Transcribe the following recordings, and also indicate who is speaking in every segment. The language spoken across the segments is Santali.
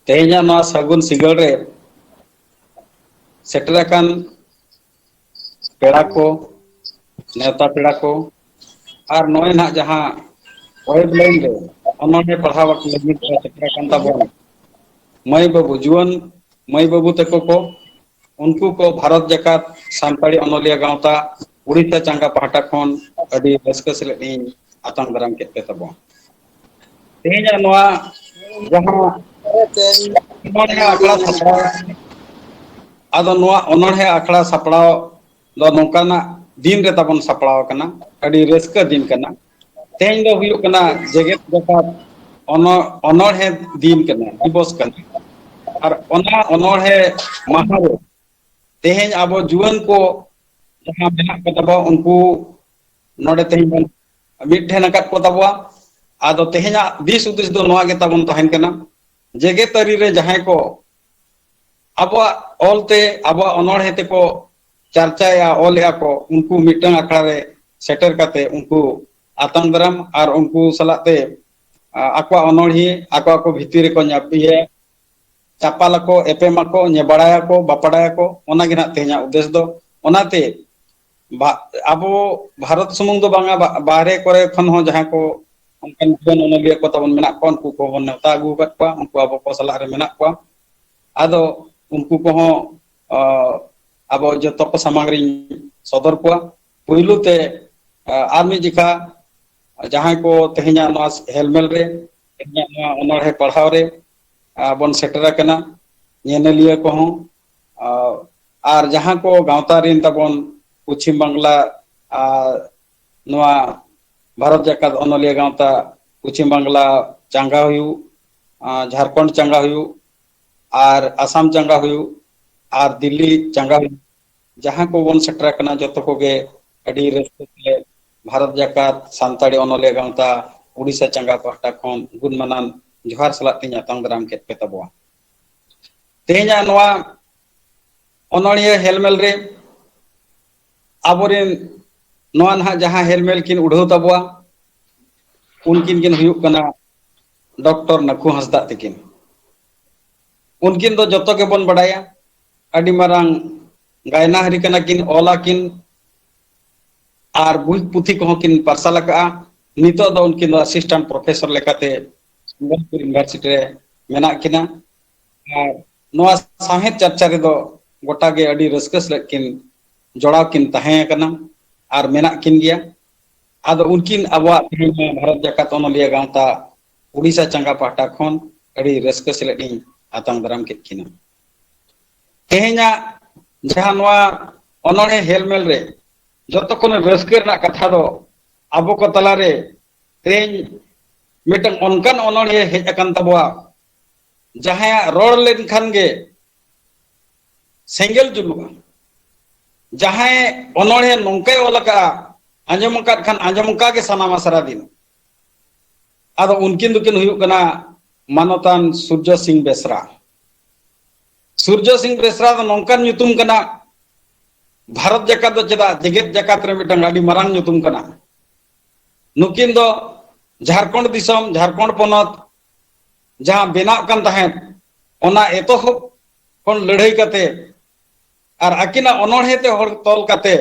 Speaker 1: ᱛᱮᱦᱮᱧᱟᱜ ᱱᱚᱣᱟ ᱥᱟᱹᱜᱩᱱ ᱥᱤᱸᱜᱟᱹᱲ ᱨᱮ ᱥᱮᱴᱮᱨ ᱟᱠᱟᱱ ᱯᱮᱲᱟ ᱠᱚ ᱱᱮᱣᱛᱟ ᱯᱮᱲᱟ ᱠᱚ ᱟᱨ ᱱᱚᱜᱼᱚᱭ ᱱᱟᱦᱟᱜ ᱡᱟᱦᱟᱸ ᱯᱚᱨᱚᱵ ᱞᱟᱹᱭᱤᱱ ᱨᱮ ᱚᱱᱚᱲᱦᱮ ᱯᱟᱲᱦᱟᱣ ᱞᱟᱹᱜᱤᱫ ᱥᱮᱴᱮᱨ ᱟᱠᱟᱱ ᱛᱟᱵᱚᱱ ᱢᱟᱹᱭ ᱵᱟᱹᱵᱩ ᱡᱩᱣᱟᱹᱱ ᱢᱟᱹᱭ ᱵᱟᱹᱵᱩ ᱛᱟᱠᱚ ᱠᱚ ᱩᱱᱠᱩ ᱠᱚ ᱵᱷᱟᱨᱚᱛ ᱡᱟᱠᱟᱛ ᱥᱟᱱᱛᱟᱲᱤ ᱚᱱᱚᱞᱤᱭᱟᱹ ᱜᱟᱶᱛᱟ ᱩᱰᱤᱥᱥᱟ ᱪᱟᱸᱜᱟ ᱯᱟᱦᱴᱟ ᱠᱷᱚᱱ ᱟᱹᱰᱤ ᱨᱟᱹᱥᱠᱟᱹ ᱥᱮᱞᱮᱫ ᱤᱧ ᱟᱛᱟᱝ ᱫᱟᱨᱟᱢ ᱠᱮᱫ ᱯᱮ ᱛᱟᱵᱚᱱ ᱛᱮᱦᱮᱧᱟᱜ ᱱᱚᱣᱟ ᱡᱟᱦᱟᱸ ᱟᱫᱚ ᱱᱚᱣᱟ ᱚᱱᱚᱬᱦᱮᱸ ᱟᱠᱷᱲᱟ ᱥᱟᱯᱲᱟᱣ ᱫᱚ ᱱᱚᱝᱠᱟᱱᱟᱜ ᱫᱤᱱ ᱨᱮ ᱛᱟᱵᱚᱱ ᱥᱟᱯᱲᱟᱣ ᱟᱠᱟᱱᱟ ᱟᱹᱰᱤ ᱨᱟᱹᱥᱠᱟᱹ ᱫᱤᱱ ᱠᱟᱱᱟ ᱛᱮᱦᱮᱧ ᱫᱚ ᱦᱩᱭᱩᱜ ᱠᱟᱱᱟ ᱡᱮᱜᱮᱛ ᱡᱟᱠᱟᱛ ᱚᱱᱚ ᱚᱱᱚᱬᱦᱮᱸ ᱫᱤᱱ ᱠᱟᱱᱟ ᱫᱤᱵᱚᱥ ᱠᱟᱱᱟ ᱟᱨ ᱚᱱᱟ ᱚᱱᱚᱬᱦᱮ ᱢᱟᱦᱟ ᱨᱮ ᱛᱮᱦᱮᱧ ᱟᱵᱚ ᱡᱩᱣᱟᱹᱱ ᱠᱚ ᱡᱟᱦᱟᱸ ᱢᱮᱱᱟᱜ ᱠᱚ ᱛᱟᱵᱚ ᱩᱱᱠᱩ ᱱᱚᱰᱮ ᱛᱮᱦᱮᱧ ᱵᱚᱱ ᱢᱤᱫ ᱴᱷᱮᱱ ᱟᱠᱟᱫ ᱠᱚ ᱛᱟᱵᱚᱣᱟ ᱟᱫᱚ ᱛᱮᱦᱮᱧᱟᱜ ᱫᱤᱥ ᱦᱩᱫᱤᱥ ᱫᱚ ᱱᱚᱣᱟ ᱜᱮ ᱛᱟᱵᱚᱱ ᱛᱟᱦᱮᱱ ᱠᱟᱱᱟ ᱡᱮᱜᱮᱛᱟᱹᱨᱤ ᱨᱮ ᱡᱟᱦᱟᱸᱭ ᱠᱚ ᱟᱵᱚᱣᱟᱜ ᱚᱞᱛᱮ ᱟᱵᱚᱣᱟᱜ ᱚᱱᱚᱬᱦᱮᱸ ᱛᱮᱠᱚ ᱪᱟᱨᱪᱟᱭᱮᱜᱼᱟ ᱚᱞᱮᱜᱼᱟ ᱠᱚ ᱩᱱᱠᱩ ᱢᱤᱫᱴᱟᱝ ᱟᱠᱷᱲᱟ ᱨᱮ ᱥᱮᱴᱮᱨ ᱠᱟᱛᱮ ᱩᱱᱠᱩ ᱟᱛᱟᱝ ᱫᱟᱨᱟᱢ ᱟᱨ ᱩᱱᱠᱩ ᱥᱟᱞᱟᱜ ᱛᱮ ᱟᱠᱚᱣᱟᱜ ᱚᱱᱚᱲᱦᱤᱭᱟᱹ ᱟᱠᱚ ᱟᱠᱚ ᱵᱷᱤᱛᱤᱨ ᱨᱮᱠᱚ ᱧᱟᱯᱤᱭᱟ ᱪᱟᱯᱟᱞ ᱟᱠᱚ ᱮᱯᱮᱢ ᱟᱠᱚ ᱧᱮᱵᱟᱲᱟᱭ ᱟᱠᱚ ᱵᱟᱯᱟᱲᱟᱭ ᱟᱠᱚ ᱚᱱᱟ ᱜᱮ ᱱᱟᱜ ᱛᱮᱦᱮᱧᱟᱜ ᱩᱫᱽᱫᱮᱥ ᱫᱚ ᱚᱱᱟᱛᱮ ᱟᱵᱚ ᱵᱷᱟᱨᱚᱛ ᱥᱩᱢᱩᱝ ᱫᱚ ᱵᱟᱝᱟ ᱵᱟᱦᱨᱮ ᱠᱚᱨᱮ ᱠᱷᱚᱱ ᱦᱚᱸ ᱡᱟᱦᱟᱸ ᱠᱚ ᱚᱱᱠᱟᱱ ᱡᱩᱣᱟᱹᱱ ᱚᱱᱚᱞᱤᱭᱟᱹ ᱠᱚ ᱛᱟᱵᱚᱱ ᱢᱮᱱᱟᱜ ᱠᱚᱣᱟ ᱩᱱᱠᱩ ᱠᱚᱵᱚᱱ ᱱᱮᱣᱛᱟ ᱟᱹᱜᱩ ᱟᱠᱟᱫ ᱠᱚᱣᱟ ᱩᱱᱠᱩ ᱟᱵᱚ ᱠᱚ ᱥᱟᱞᱟᱜ ᱨᱮ ᱢᱮᱱᱟᱜ ᱠᱚᱣᱟ ᱟᱫᱚ ᱩᱱᱠᱩ ᱠᱚᱦᱚᱸ ᱟᱵᱚ ᱡᱚᱛᱚ ᱠᱚ ᱥᱟᱢᱟᱝ ᱨᱤᱧ ᱥᱚᱫᱚᱨ ᱠᱚᱣᱟ ᱯᱩᱭᱞᱩ ᱛᱮ ᱟᱨ ᱢᱤᱫ ᱡᱮᱠᱷᱟ ᱡᱟᱦᱟᱸᱭ ᱠᱚ ᱛᱮᱦᱮᱧᱟᱜ ᱱᱚᱣᱟ ᱦᱮᱞᱢᱮᱞ ᱨᱮ ᱛᱮᱦᱮᱧᱟᱜ ᱱᱚᱣᱟ ᱚᱱᱚᱲᱦᱮ ᱯᱟᱲᱦᱟᱣ ᱨᱮ ᱵᱚᱱ ᱥᱮᱴᱮᱨ ᱟᱠᱟᱱᱟ ᱧᱮᱧᱮᱞᱤᱭᱟᱹ ᱠᱚᱦᱚᱸ ᱟᱨ ᱡᱟᱦᱟᱸ ᱠᱚ ᱜᱟᱶᱛᱟ ᱨᱮᱱ ᱛᱟᱵᱚᱱ ᱯᱚᱪᱷᱤᱢ ᱵᱟᱝᱞᱟ ᱟᱨ ᱱᱚᱣᱟ ᱵᱷᱟᱨᱚᱛ ᱡᱟᱠᱟᱛ ᱚᱱᱚᱞᱤᱭᱟᱹ ᱜᱟᱶᱛᱟ ᱯᱚᱪᱷᱤᱢ ᱵᱟᱝᱞᱟ ᱪᱟᱸᱜᱟ ᱦᱩᱭᱩᱜ ᱡᱷᱟᱲᱠᱷᱚᱸᱰ ᱪᱟᱸᱜᱟ ᱦᱩᱭᱩᱜ ᱟᱨ ᱟᱥᱟᱢ ᱪᱟᱸᱜᱟ ᱦᱩᱭᱩᱜ ᱟᱨ ᱫᱤᱞᱞᱤ ᱪᱟᱸᱜᱟ ᱦᱩᱭᱩᱜ ᱡᱟᱦᱟᱸ ᱠᱚᱵᱚᱱ ᱥᱮᱴᱮᱨ ᱟᱠᱟᱱᱟ ᱡᱚᱛᱚ ᱠᱚᱜᱮ ᱟᱹᱰᱤ ᱨᱟᱹᱥᱠᱟᱹ ᱛᱮ ᱵᱷᱟᱨᱚᱛ ᱡᱟᱠᱟᱛ ᱥᱟᱱᱛᱟᱲᱤ ᱚᱱᱚᱞᱤᱭᱟᱹ ᱜᱟᱶᱛᱟ ᱩᱰᱤᱥᱥᱟ ᱪᱟᱸᱜᱟ ᱯᱟᱦᱴᱟ ᱠᱷᱚᱱ ᱜᱩᱱ ᱢᱟᱱᱟᱱ ᱡᱚᱦᱟᱨ ᱥᱟᱞᱟᱜ ᱛᱤᱧ ᱟᱛᱟᱝ ᱫᱟᱨᱟᱢ ᱠᱮᱫ ᱯᱮ ᱛᱟᱵᱚᱣᱟ ᱛᱮᱦᱮᱧᱟᱜ ᱱᱚᱣᱟ ᱚᱱᱚᱲᱦᱤᱭᱟᱹ ᱦᱮᱞᱢᱮᱞ ᱨᱮ ᱟᱵᱚᱨᱮᱱ ᱱᱚᱣᱟ ᱱᱟᱦᱟᱜ ᱡᱟᱦᱟᱸ ᱦᱮᱞᱢᱮᱞ ᱠᱤᱱ ᱩᱰᱷᱟᱹᱣ ᱛᱟᱵᱚᱣᱟ ᱩᱱᱠᱤᱱ ᱠᱤᱱ ᱦᱩᱭᱩᱜ ᱠᱟᱱᱟ ᱰᱚᱠᱴᱚᱨ ᱱᱟᱠᱷᱩ ᱦᱟᱸᱥᱫᱟᱜ ᱛᱟᱹᱠᱤᱱ ᱩᱱᱠᱤᱱ ᱫᱚ ᱡᱚᱛᱚ ᱜᱮᱵᱚᱱ ᱵᱟᱰᱟᱭᱟ ᱟᱹᱰᱤ ᱢᱟᱨᱟᱝ ᱜᱟᱭᱱᱟᱦᱟᱹᱨᱤ ᱠᱟᱱᱟ ᱠᱤᱱ ᱚᱞ ᱟᱹᱠᱤᱱ ᱟᱨ ᱵᱩᱡ ᱯᱩᱛᱷᱤ ᱠᱚᱦᱚᱸ ᱠᱤᱱ ᱯᱟᱨᱥᱟᱞ ᱟᱠᱟᱜᱼᱟ ᱱᱤᱛᱚᱜ ᱫᱚ ᱩᱱᱠᱤᱱ ᱫᱚ ᱟᱥᱤᱥᱴᱮᱱᱴ ᱯᱨᱚᱯᱷᱮᱥᱚᱨ ᱞᱮᱠᱟᱛᱮ ᱥᱤᱝᱜᱟᱯᱩᱨ ᱤᱭᱩᱱᱤᱵᱷᱟᱨᱥᱤᱴᱤ ᱨᱮ ᱢᱮᱱᱟᱜ ᱠᱤᱱᱟ ᱟᱨ ᱱᱚᱣᱟ ᱥᱟᱶᱦᱮᱫ ᱪᱟᱨᱪᱟ ᱨᱮᱫᱚ ᱜᱚᱴᱟ ᱜᱮ ᱟᱹᱰᱤ ᱨᱟᱹᱥᱠᱟᱹ ᱥᱮᱞᱮᱫ ᱠᱤᱱ ᱡᱚᱲᱟᱣ ᱠᱤᱱ ᱛᱟᱦᱮᱸ ᱟᱠᱟᱱᱟ ᱟᱨ ᱢᱮᱱᱟᱜ ᱠᱤᱱ ᱜᱮᱭᱟ ᱟᱫᱚ ᱩᱱᱠᱤᱱ ᱟᱵᱚᱣᱟᱜ ᱛᱮᱦᱮᱧ ᱵᱷᱟᱨᱚᱛ ᱡᱟᱠᱟᱛ ᱚᱱᱚᱞᱤᱭᱟᱹ ᱜᱟᱶᱛᱟ ᱩᱰᱤᱥᱥᱟ ᱪᱟᱸᱜᱟ ᱯᱟᱦᱴᱟ ᱠᱷᱚᱱ ᱟᱹᱰᱤ ᱨᱟᱹᱥᱠᱟᱹ ᱥᱮᱞᱮᱫ ᱤᱧ ᱟᱛᱟᱝ ᱫᱟᱨᱟᱢ ᱠᱮᱫ ᱠᱤᱱᱟ ᱛᱮᱦᱮᱧᱟᱜ ᱡᱟᱦᱟᱸ ᱱᱚᱣᱟ ᱚᱱᱚᱲᱦᱮ ᱦᱮᱞᱢᱮᱞ ᱨᱮ ᱡᱚᱛᱚ ᱠᱷᱚᱱ ᱨᱟᱹᱥᱠᱟᱹ ᱨᱮᱱᱟᱜ ᱠᱟᱛᱷᱟ ᱫᱚ ᱟᱵᱚ ᱠᱚ ᱛᱟᱞᱟᱨᱮ ᱛᱮᱦᱮᱧ ᱢᱤᱫᱴᱟᱝ ᱚᱱᱠᱟᱱ ᱚᱱᱚᱲᱦᱮ ᱦᱮᱡ ᱟᱠᱟᱱ ᱛᱟᱵᱚᱣᱟ ᱡᱟᱦᱟᱸᱭᱟᱜ ᱨᱚᱲ ᱞᱮᱱᱠᱷᱟᱱ ᱜᱮ ᱥᱮᱸᱜᱮᱞ ᱡᱩᱞᱩᱜᱼᱟ ᱡᱟᱦᱟᱸᱭ ᱚᱱᱚᱬᱦᱮ ᱱᱚᱝᱠᱟᱭ ᱚᱞ ᱟᱠᱟᱫᱼᱟ ᱟᱸᱡᱚᱢ ᱟᱠᱟᱫ ᱠᱷᱟᱱ ᱟᱸᱡᱚᱢ ᱚᱱᱠᱟ ᱜᱮ ᱥᱟᱱᱟᱢᱟ ᱥᱟᱨᱟᱫᱤᱱ ᱟᱫᱚ ᱩᱱᱠᱤᱱ ᱫᱚᱠᱤᱱ ᱦᱩᱭᱩᱜ ᱠᱟᱱᱟ ᱢᱟᱱᱚᱛᱟᱱ ᱥᱩᱨᱡᱚ ᱥᱤᱝ ᱵᱮᱥᱨᱟ ᱥᱩᱨᱡᱚ ᱥᱤᱝ ᱵᱮᱥᱨᱟ ᱫᱚ ᱱᱚᱝᱠᱟᱱ ᱧᱩᱛᱩᱢ ᱠᱟᱱᱟ ᱵᱷᱟᱨᱚᱛ ᱡᱟᱠᱟᱛ ᱫᱚ ᱪᱮᱫᱟᱜ ᱡᱮᱜᱮᱛ ᱡᱟᱠᱟᱛ ᱨᱮ ᱢᱤᱫᱴᱟᱝ ᱟᱹᱰᱤ ᱢᱟᱨᱟᱝ ᱧᱩᱛᱩᱢ ᱠᱟᱱᱟ ᱱᱩᱠᱤᱱ ᱫᱚ ᱡᱷᱟᱲᱠᱷᱚᱸᱰ ᱫᱤᱥᱚᱢ ᱡᱷᱟᱲᱠᱷᱚᱸᱰ ᱯᱚᱱᱚᱛ ᱡᱟᱦᱟᱸ ᱵᱮᱱᱟᱜ ᱠᱟᱱ ᱛᱟᱦᱮᱸᱫ ᱚᱱᱟ ᱮᱛᱚᱦᱚᱵ ᱠᱷᱚᱱ ᱞᱟᱹᱲᱦᱟᱹᱭ ᱠᱟᱛᱮ ᱟᱨ ᱟᱹᱠᱤᱱᱟᱜ ᱚᱱᱚᱬᱦᱮ ᱛᱮ ᱦᱚᱲ ᱛᱚᱞ ᱠᱟᱛᱮ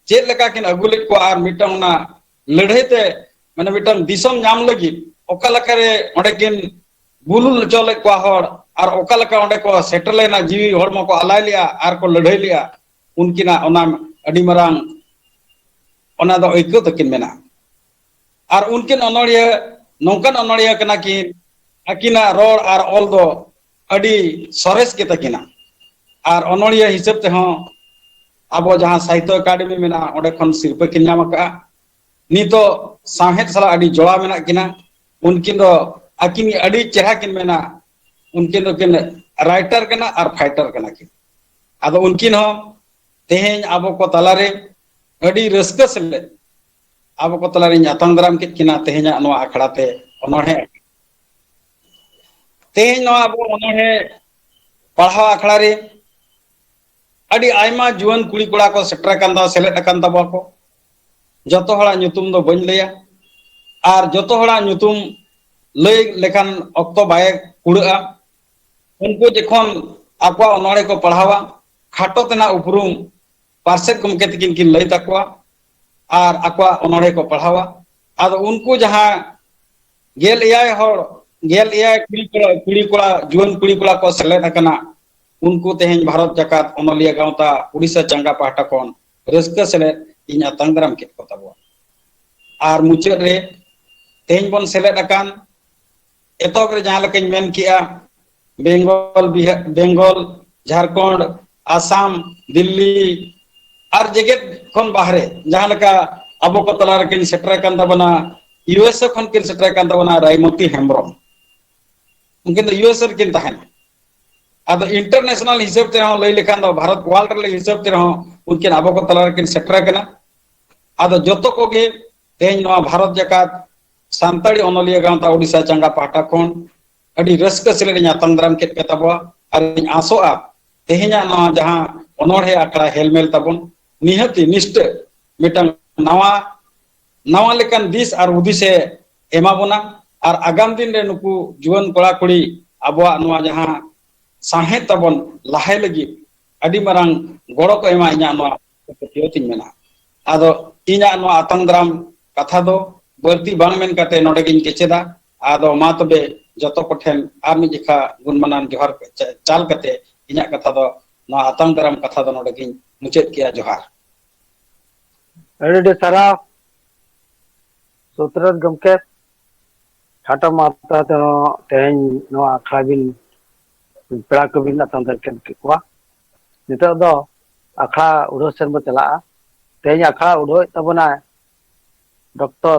Speaker 1: ᱪᱮᱫ ᱞᱮᱠᱟ ᱠᱤᱱ ᱟᱹᱜᱩ ᱞᱮᱫ ᱠᱚᱣᱟ ᱟᱨ ᱢᱤᱫᱴᱟᱝ ᱚᱱᱟ ᱞᱟᱹᱲᱦᱟᱹᱭ ᱛᱮ ᱢᱟᱱᱮ ᱢᱤᱫᱴᱟᱝ ᱫᱤᱥᱚᱢ ᱧᱟᱢ ᱞᱟᱹᱜᱤᱫ ᱚᱠᱟ ᱞᱮᱠᱟᱨᱮ ᱚᱸᱰᱮ ᱠᱤᱱ ᱵᱩᱞᱩᱞ ᱦᱚᱪᱚ ᱞᱮᱫ ᱠᱚᱣᱟ ᱦᱚᱲ ᱟᱨ ᱚᱠᱟ ᱞᱮᱠᱟ ᱚᱸᱰᱮ ᱠᱚ ᱥᱮᱴᱮᱨ ᱞᱮᱱᱟ ᱡᱤᱣᱤ ᱦᱚᱲᱢᱚ ᱠᱚ ᱟᱞᱟᱭ ᱞᱮᱜᱼᱟ ᱟᱨ ᱠᱚ ᱞᱟᱹᱲᱦᱟᱹᱭ ᱞᱮᱜᱼᱟ ᱩᱱᱠᱤᱱᱟᱜ ᱚᱱᱟ ᱟᱹᱰᱤ ᱢᱟᱨᱟᱝ ᱚᱱᱟ ᱫᱚ ᱟᱹᱭᱠᱟᱹᱣ ᱛᱟᱹᱠᱤᱱ ᱢᱮᱱᱟᱜᱼᱟ ᱟᱨ ᱩᱱᱠᱤᱱ ᱚᱱᱚᱲᱤᱭᱟᱹ ᱱᱚᱝᱠᱟᱱ ᱚᱱᱚᱲᱤᱭᱟᱹ ᱠᱟᱱᱟ ᱠᱤᱱ ᱟᱹᱠᱤᱱᱟᱜ ᱨᱚᱲ ᱟᱨ ᱚᱞ ᱫᱚ ᱟᱹᱰᱤ ᱥᱚᱨᱮᱥ ᱜᱮ ᱛᱟᱹᱠᱤᱱᱟ ᱟᱨ ᱚᱱᱚᱲᱤᱭᱟᱹ ᱦᱤᱥᱟᱹᱵ ᱛᱮᱦᱚᱸ ᱟᱵᱚ ᱡᱟᱦᱟᱸ ᱥᱟᱦᱤᱛᱭᱚ ᱟᱠᱟᱰᱮᱢᱤ ᱢᱮᱱᱟᱜᱼᱟ ᱚᱸᱰᱮ ᱠᱷᱚᱱ ᱥᱤᱨᱯᱟᱹ ᱠᱤᱱ ᱧᱟᱢ ᱟᱠᱟᱫᱼᱟ ᱱᱤᱛᱚᱜ ᱥᱟᱶᱦᱮᱫ ᱥᱟᱞᱟᱜ ᱟᱹᱰᱤ ᱡᱚᱲᱟᱣ ᱢᱮᱱᱟᱜ ᱠᱤᱱᱟ ᱩᱱᱠᱤᱱ ᱫᱚ ᱟᱹᱠᱤᱱ ᱟᱹᱰᱤ ᱪᱮᱦᱨᱟ ᱠᱤᱱ ᱢᱮᱱᱟ ᱩᱱᱠᱤᱱ ᱫᱚᱠᱤᱱ ᱨᱟᱭᱴᱟᱨ ᱠᱟᱱᱟ ᱟᱨ ᱯᱷᱟᱭᱴᱟᱨ ᱠᱟᱱᱟ ᱠᱤᱱ ᱟᱫᱚ ᱩᱱᱠᱤᱱ ᱦᱚᱸ ᱛᱮᱦᱮᱧ ᱟᱵᱚ ᱠᱚ ᱛᱟᱞᱟᱨᱮ ᱟᱹᱰᱤ ᱨᱟᱹᱥᱠᱟᱹ ᱥᱮᱞᱮᱫ ᱟᱵᱚ ᱠᱚ ᱛᱟᱞᱟ ᱨᱤᱧ ᱟᱛᱟᱝ ᱫᱟᱨᱟᱢ ᱠᱮᱫ ᱠᱤᱱᱟ ᱛᱮᱦᱮᱧᱟᱜ ᱱᱚᱣᱟ ᱟᱠᱷᱲᱟ ᱛᱮ ᱚᱱᱚᱬᱦᱮ ᱛᱮᱦᱮᱧ ᱱᱚᱣᱟ ᱟᱵᱚ ᱚᱱᱚᱬᱦᱮ ᱯᱟᱲᱦᱟᱣ ᱟᱠᱷᱲᱟ ᱨᱮ ᱟᱹᱰᱤ ᱟᱭᱢᱟ ᱡᱩᱣᱟᱹᱱ ᱠᱩᱲᱤ ᱠᱚᱲᱟ ᱠᱚ ᱥᱮᱴᱮᱨ ᱟᱠᱟᱱ ᱛᱟᱵᱚᱱᱟ ᱥᱮᱞᱮᱫ ᱟᱠᱟᱱ ᱛᱟᱵᱚᱱᱟ ᱠᱚ ᱡᱚᱛᱚ ᱦᱚᱲᱟᱜ ᱧᱩᱛᱩᱢ ᱫᱚ ᱵᱟᱹᱧ ᱞᱟᱹᱭᱟ ᱟᱨ ᱡᱚᱛᱚ ᱦᱚᱲᱟᱜ ᱧᱩᱛᱩᱢ ᱞᱟᱹᱭ ᱞᱮᱠᱷᱟᱱ ᱚᱠᱛᱚ ᱵᱟᱭ ᱠᱩᱲᱟᱹᱜᱼᱟ ᱩᱱᱠᱩ ᱡᱚᱠᱷᱚᱱ ᱟᱠᱚᱣᱟᱜ ᱚᱱᱚᱬᱦᱮ ᱠᱚ ᱯᱟᱲᱦᱟᱣᱟ ᱠᱷᱟᱴᱚ ᱛᱮᱱᱟᱜ ᱩᱯᱨᱩᱢ ᱯᱟᱨᱥᱮᱫ ᱜᱚᱢᱠᱮ ᱛᱤᱠᱤᱱ ᱠᱤᱱ ᱞᱟᱹᱭ ᱛᱟᱠᱚᱣᱟ ᱟᱨ ᱟᱠᱚᱣᱟᱜ ᱚᱱᱚᱲᱦᱮᱸ ᱠᱚ ᱯᱟᱲᱦᱟᱣᱟ ᱟᱫᱚ ᱩᱱᱠᱩ ᱡᱟᱦᱟᱸ ᱜᱮᱞ ᱮᱭᱟᱭ ᱦᱚᱲ ᱜᱮᱞ ᱮᱭᱟᱭ ᱠᱩᱲᱤ ᱠᱚᱲᱟ ᱠᱩᱲᱤ ᱠᱚᱲᱟ ᱡᱩᱣᱟᱹᱱ ᱠᱩᱲᱤ ᱠᱚᱲᱟ ᱠᱚ ᱥᱮᱞᱮᱫ ᱟᱠᱟᱱᱟ ᱩᱱᱠᱩ ᱛᱮᱦᱮᱧ ᱵᱷᱟᱨᱚᱛ ᱡᱟᱠᱟᱛ ᱚᱱᱚᱞᱤᱭᱟᱹ ᱜᱟᱶᱛᱟ ᱩᱰᱤᱥᱟ ᱪᱟᱸᱜᱟ ᱯᱟᱦᱴᱟ ᱠᱷᱚᱱ ᱨᱟᱹᱥᱠᱟᱹ ᱥᱮᱞᱮᱫ ᱤᱧ ᱟᱛᱟᱝ ᱫᱟᱨᱟᱢ ᱠᱮᱫ ᱠᱚ ᱛᱟᱵᱚᱣᱟ ᱟᱨ ᱢᱩᱪᱟᱹᱫ ᱨᱮ ᱛᱮᱦᱮᱧ ᱵᱚᱱ ᱥᱮᱞᱮᱫ ᱟᱠᱟᱱ ᱮᱛᱚᱦᱚᱵ ᱨᱮ ᱡᱟᱦᱟᱸ ᱞᱮᱠᱟᱧ ᱢᱮᱱ ᱠᱮᱜᱼᱟ ᱵᱮᱝᱜᱚᱞ ᱵᱤᱦᱟᱨ ᱵᱮᱝᱜᱚᱞ ᱡᱷᱟᱲᱠᱷᱚᱸᱰ ᱟᱥᱟᱢ ᱫᱤᱞᱞᱤ ᱟᱨ ᱡᱮᱜᱮᱛ ᱠᱷᱚᱱ ᱵᱟᱦᱨᱮ ᱡᱟᱦᱟᱸ ᱞᱮᱠᱟ ᱟᱵᱚ ᱠᱚ ᱛᱟᱞᱟ ᱨᱮᱠᱤᱱ ᱥᱮᱴᱮᱨ ᱟᱠᱟᱱ ᱛᱟᱵᱚᱱᱟ ᱤᱭᱩ ᱮᱥ ᱮ ᱠᱷᱚᱱ ᱠᱤᱱ ᱥᱮᱴᱮᱨ ᱟᱠᱟᱱ ᱛᱟᱵᱚᱱᱟ ᱨᱟᱭᱢᱚᱛᱤ ᱦᱮᱢᱵᱨᱚᱢ ᱩᱱᱠᱤᱱ ᱫᱚ ᱤᱭᱩ ᱮᱥ ᱮ ᱨᱮᱠᱤᱱ ᱛᱟᱦᱮᱱᱟ ᱟᱫᱚ ᱤᱱᱴᱟᱨᱱᱮᱥᱱᱟᱞ ᱦᱤᱥᱟᱹᱵ ᱛᱮᱦᱚᱸ ᱞᱟᱹᱭ ᱞᱮᱠᱷᱟᱱ ᱫᱚ ᱵᱷᱟᱨᱚᱛ ᱣᱟᱨᱞᱰ ᱨᱮ ᱦᱤᱥᱟᱹᱵ ᱛᱮᱦᱚᱸ ᱩᱱᱠᱤᱱ ᱟᱵᱚ ᱠᱚ ᱛᱟᱞᱟ ᱨᱮᱠᱤᱱ ᱥᱮᱴᱮᱨ ᱟᱠᱟᱱᱟ ᱟᱫᱚ ᱡᱚᱛᱚ ᱠᱚᱜᱮ ᱛᱮᱦᱮᱧ ᱱᱚᱣᱟ ᱵᱷᱟᱨᱚᱛ ᱡᱟᱠᱟᱛ ᱥᱟᱱᱛᱟᱲᱤ ᱚᱱᱚᱞᱤᱭᱟᱹ ᱜᱟᱶᱛᱟ ᱳᱰᱤᱥᱟ ᱪᱟᱸᱜᱟ ᱯᱟᱦᱴᱟ ᱠᱷᱚᱱ ᱟᱹᱰᱤ ᱨᱟᱹᱥᱠᱟᱹ ᱥᱮᱞᱮᱫ ᱤᱧ ᱟᱛᱟᱝ ᱫᱟᱨᱟᱢ ᱠᱮᱫ ᱯᱮ ᱛᱟᱵᱚᱣᱟ ᱟᱨ ᱤᱧ ᱟᱥᱚᱜᱼᱟ ᱛᱮᱦᱮᱧᱟᱜ ᱱᱚᱣᱟ ᱡᱟᱦᱟᱸ ᱚᱱᱚᱲᱦᱮ ᱟᱠᱷᱲᱟ ᱦᱮᱞᱢᱮᱞ ᱛᱟᱵᱚᱱ ᱱᱤᱦᱟᱹᱛᱤ ᱱᱤᱥᱴᱟᱹ ᱢᱤᱫᱴᱟᱝ ᱱᱟᱣᱟ ᱱᱟᱣᱟ ᱞᱮᱠᱟᱱ ᱫᱤᱥ ᱟᱨ ᱦᱩᱫᱤᱥᱮ ᱮᱢᱟ ᱵᱚᱱᱟ ᱟᱨ ᱟᱜᱟᱢ ᱫᱤᱱ ᱨᱮ ᱱᱩᱠᱩ ᱡᱩᱣᱟᱹᱱ ᱠᱚᱲᱟ ᱠᱩᱲᱤ ᱟᱵᱚᱣᱟᱜ ᱱᱚᱣᱟ ᱡᱟᱦᱟᱸ ᱥᱟᱶᱦᱮᱫ ᱛᱟᱵᱚᱱ ᱞᱟᱦᱟᱭ ᱞᱟᱹᱜᱤᱫ ᱟᱹᱰᱤ ᱢᱟᱨᱟᱝ ᱜᱚᱲᱚ ᱠᱚ ᱮᱢᱟ ᱤᱧᱟᱹᱜ ᱱᱚᱣᱟ ᱯᱟᱹᱛᱭᱟᱹᱣ ᱛᱤᱧ ᱢᱮᱱᱟᱜᱼᱟ ᱟᱫᱚ ᱤᱧᱟᱹᱜ ᱱᱚᱣᱟ ᱟᱛᱟᱝ ᱫᱟᱨᱟᱢ ᱠᱟᱛᱷᱟ ᱫᱚ ᱵᱟᱹᱲᱛᱤ ᱵᱟᱝ ᱢᱮᱱ ᱠᱟᱛᱮ ᱱᱚᱰᱮ ᱜᱤᱧ ᱠᱮᱪᱮᱫᱟ ᱟᱫᱚ ᱢᱟ ᱛᱚᱵᱮ ᱡᱚᱛᱚ ᱠᱚᱴᱷᱮᱱ ᱟᱨ ᱢᱤᱫ ᱡᱮᱠᱷᱟ ᱜᱩᱱᱢᱟᱱᱟᱱ ᱡᱚᱦᱟᱨ ᱪᱟᱞ ᱠᱟᱛᱮ ᱤᱧᱟᱹᱜ ᱠᱟᱛᱷᱟ ᱫᱚ ᱱᱚᱣᱟ ᱟᱛᱟᱝ ᱫᱟᱨᱟᱢ ᱠᱟᱛᱷᱟ ᱫᱚ ᱱᱚᱰᱮ ᱜᱤᱧ ᱢᱩᱪᱟᱹᱫ ᱠᱮᱜᱼᱟ ᱡᱚᱦᱟᱨ ᱟᱹᱰᱤ
Speaker 2: ᱟᱹᱰᱤ ᱥᱟᱨᱦᱟᱣ ᱥᱩᱛᱨᱚᱛ ᱜᱚᱢᱠᱮ ᱴᱟᱴᱟ ᱢᱟᱛᱟ ᱛᱮᱦᱚᱸ ᱛᱮᱦᱮᱧ ᱱᱚᱣᱟ ᱟᱠᱷᱲᱟ ᱵᱤᱱ ᱯᱮᱲᱟ ᱠᱚᱵᱤᱱ ᱟᱛᱟᱝ ᱫᱟᱨᱟᱢ ᱠᱮᱫ ᱠᱚᱣᱟ ᱱᱤᱛᱚᱜ ᱫᱚ ᱟᱠᱷᱲᱟ ᱩᱰᱷᱟᱹᱣ ᱥᱮᱱ ᱵᱚ ᱪᱟᱞᱟᱜᱼᱟ ᱛᱮᱦᱮᱧ ᱟᱠᱷᱲᱟ ᱩᱰᱷᱟᱹᱣᱮᱫ ᱛᱟᱵᱚᱱᱟᱭ ᱰᱚᱠᱴᱚᱨ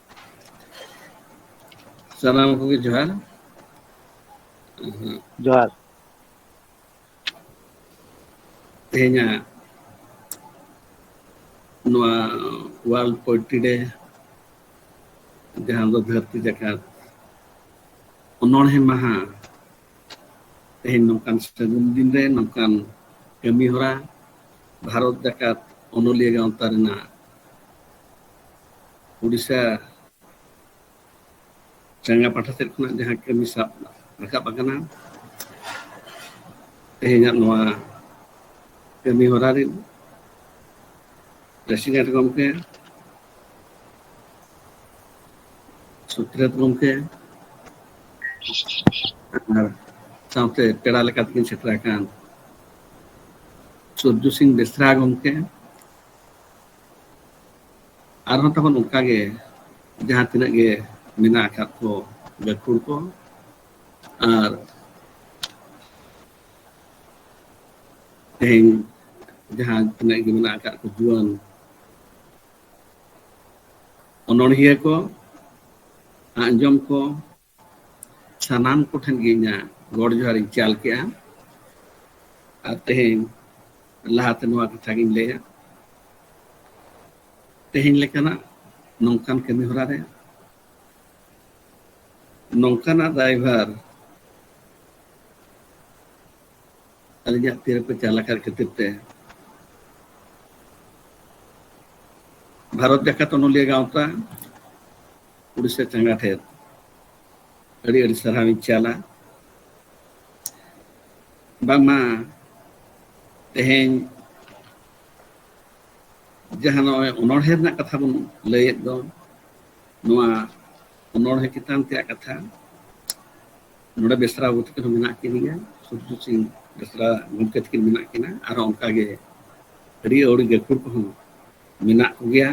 Speaker 3: ᱥᱟᱱᱟᱢ ᱠᱚᱜᱮ ᱡᱚᱦᱟᱨ ᱦᱩᱸ
Speaker 2: ᱡᱚᱦᱟᱨ
Speaker 3: ᱛᱮᱦᱮᱧᱟᱜ ᱱᱚᱣᱟ ᱚᱣᱟᱨᱞᱰ ᱯᱳᱞᱴᱨᱤ ᱰᱮ ᱡᱟᱦᱟᱸ ᱫᱚ ᱫᱷᱟᱹᱨᱛᱤ ᱡᱟᱠᱟᱛ ᱚᱱᱚᱬᱦᱮ ᱢᱟᱦᱟ ᱛᱮᱦᱮᱧ ᱱᱚᱝᱠᱟᱱ ᱥᱟᱹᱜᱩᱱ ᱫᱤᱱ ᱨᱮ ᱱᱚᱝᱠᱟᱱ ᱠᱟᱹᱢᱤ ᱦᱚᱨᱟ ᱵᱷᱟᱨᱚᱛ ᱡᱟᱠᱟᱛ ᱚᱱᱚᱞᱤᱭᱟᱹ ᱜᱟᱶᱛᱟ ᱨᱮᱱᱟᱜ ᱩᱰᱤᱥᱟ ᱪᱟᱸᱜᱟ ᱯᱟᱦᱴᱟ ᱥᱮᱫ ᱠᱷᱚᱱᱟᱜ ᱡᱟᱦᱟᱸ ᱠᱟᱹᱢᱤ ᱥᱟᱵ ᱨᱟᱠᱟᱵ ᱟᱠᱟᱱᱟ ᱛᱮᱦᱮᱧᱟᱜ ᱱᱚᱣᱟ ᱠᱟᱹᱢᱤ ᱦᱚᱨᱟ ᱨᱮ ᱯᱨᱮᱥᱤᱰᱮᱱᱴ ᱜᱚᱢᱠᱮ ᱥᱩᱛᱨᱮᱛ ᱜᱚᱢᱠᱮ ᱟᱨ ᱥᱟᱶᱛᱮ ᱯᱮᱲᱟ ᱞᱮᱠᱟᱛᱮᱠᱤᱱ ᱥᱮᱴᱮᱨ ᱟᱠᱟᱱ ᱥᱩᱨᱡᱩ ᱥᱤᱝ ᱵᱮᱥᱨᱟ ᱜᱚᱢᱠᱮ ᱟᱨᱦᱚᱸ ᱛᱟᱵᱚᱱ ᱚᱱᱠᱟ ᱜᱮ ᱡᱟᱦᱟᱸ ᱛᱤᱱᱟᱹᱜ ᱜᱮ ᱢᱮᱱᱟᱜ ᱟᱠᱟᱫ ᱠᱚ ᱜᱟᱹᱠᱷᱩᱲ ᱠᱚ ᱟᱨ ᱛᱮᱦᱮᱧ ᱡᱟᱦᱟᱸ ᱛᱤᱱᱟᱹᱜ ᱜᱮ ᱢᱮᱱᱟᱜ ᱟᱠᱟᱫ ᱠᱚ ᱡᱩᱣᱟᱹᱱ ᱚᱱᱚᱬᱦᱤᱭᱟᱹ ᱠᱚ ᱟᱸᱡᱚᱢ ᱠᱚ ᱥᱟᱱᱟᱢ ᱠᱚᱴᱷᱮᱱ ᱜᱮ ᱤᱧᱟᱹᱜ ᱜᱚᱰ ᱡᱚᱦᱟᱨ ᱤᱧ ᱪᱟᱞ ᱠᱮᱜᱼᱟ ᱟᱨ ᱛᱮᱦᱮᱧ ᱞᱟᱦᱟᱛᱮ ᱱᱚᱣᱟ ᱠᱟᱛᱷᱟ ᱜᱤᱧ ᱞᱟᱹᱭᱟ ᱛᱮᱦᱮᱧ ᱞᱮᱠᱟᱱᱟᱜ ᱱᱚᱝᱠᱟᱱ ᱠᱟᱹᱢᱤ ᱦᱚᱨᱟ ᱨᱮ ᱱᱚᱝᱠᱟᱱᱟᱜ ᱫᱟᱭᱵᱷᱟᱨ ᱟᱹᱞᱤᱧᱟᱜ ᱛᱤ ᱨᱮᱯᱮ ᱪᱟᱞ ᱟᱠᱟᱫ ᱠᱷᱟᱹᱛᱤᱨ ᱛᱮ ᱵᱷᱟᱨᱚᱛ ᱡᱟᱠᱟᱛ ᱚᱱᱚᱞᱤᱭᱟᱹ ᱜᱟᱶᱛᱟ ᱩᱲᱤᱥᱥᱟ ᱪᱟᱸᱜᱟ ᱴᱷᱮᱱ ᱟᱹᱰᱤ ᱟᱹᱰᱤ ᱥᱟᱨᱦᱟᱣᱤᱧ ᱪᱟᱞᱟ ᱵᱟᱝᱢᱟ ᱛᱮᱦᱮᱧ ᱡᱟᱦᱟᱸ ᱱᱚᱜᱼᱚᱭ ᱚᱱᱚᱬᱦᱮ ᱨᱮᱱᱟᱜ ᱠᱟᱛᱷᱟ ᱵᱚᱱ ᱞᱟᱹᱭᱮᱫ ᱫᱚ ᱱᱚᱣᱟ ᱚᱱᱚᱬᱦᱮ ᱪᱮᱛᱟᱱ ᱛᱮᱭᱟᱜ ᱠᱟᱛᱷᱟ ᱱᱚᱰᱮ ᱵᱮᱥᱨᱟ ᱵᱟᱹᱵᱩ ᱛᱟᱹᱠᱤᱱ ᱦᱚᱸ ᱢᱮᱱᱟᱜ ᱠᱤᱱ ᱜᱮᱭᱟ ᱥᱩᱨᱡᱩ ᱥᱤᱝ ᱵᱮᱥᱨᱟ ᱜᱚᱢᱠᱮ ᱛᱟᱹᱠᱤᱱ ᱢᱮᱱᱟᱜ ᱠᱤᱱᱟ ᱟᱨᱦᱚᱸ ᱚᱱᱠᱟᱜᱮ ᱟᱹᱰᱤ ᱟᱹᱣᱲᱤ ᱜᱟᱹᱠᱷᱩᱲ ᱠᱚᱦᱚᱸ ᱢᱮᱱᱟᱜ ᱠᱚᱜᱮᱭᱟ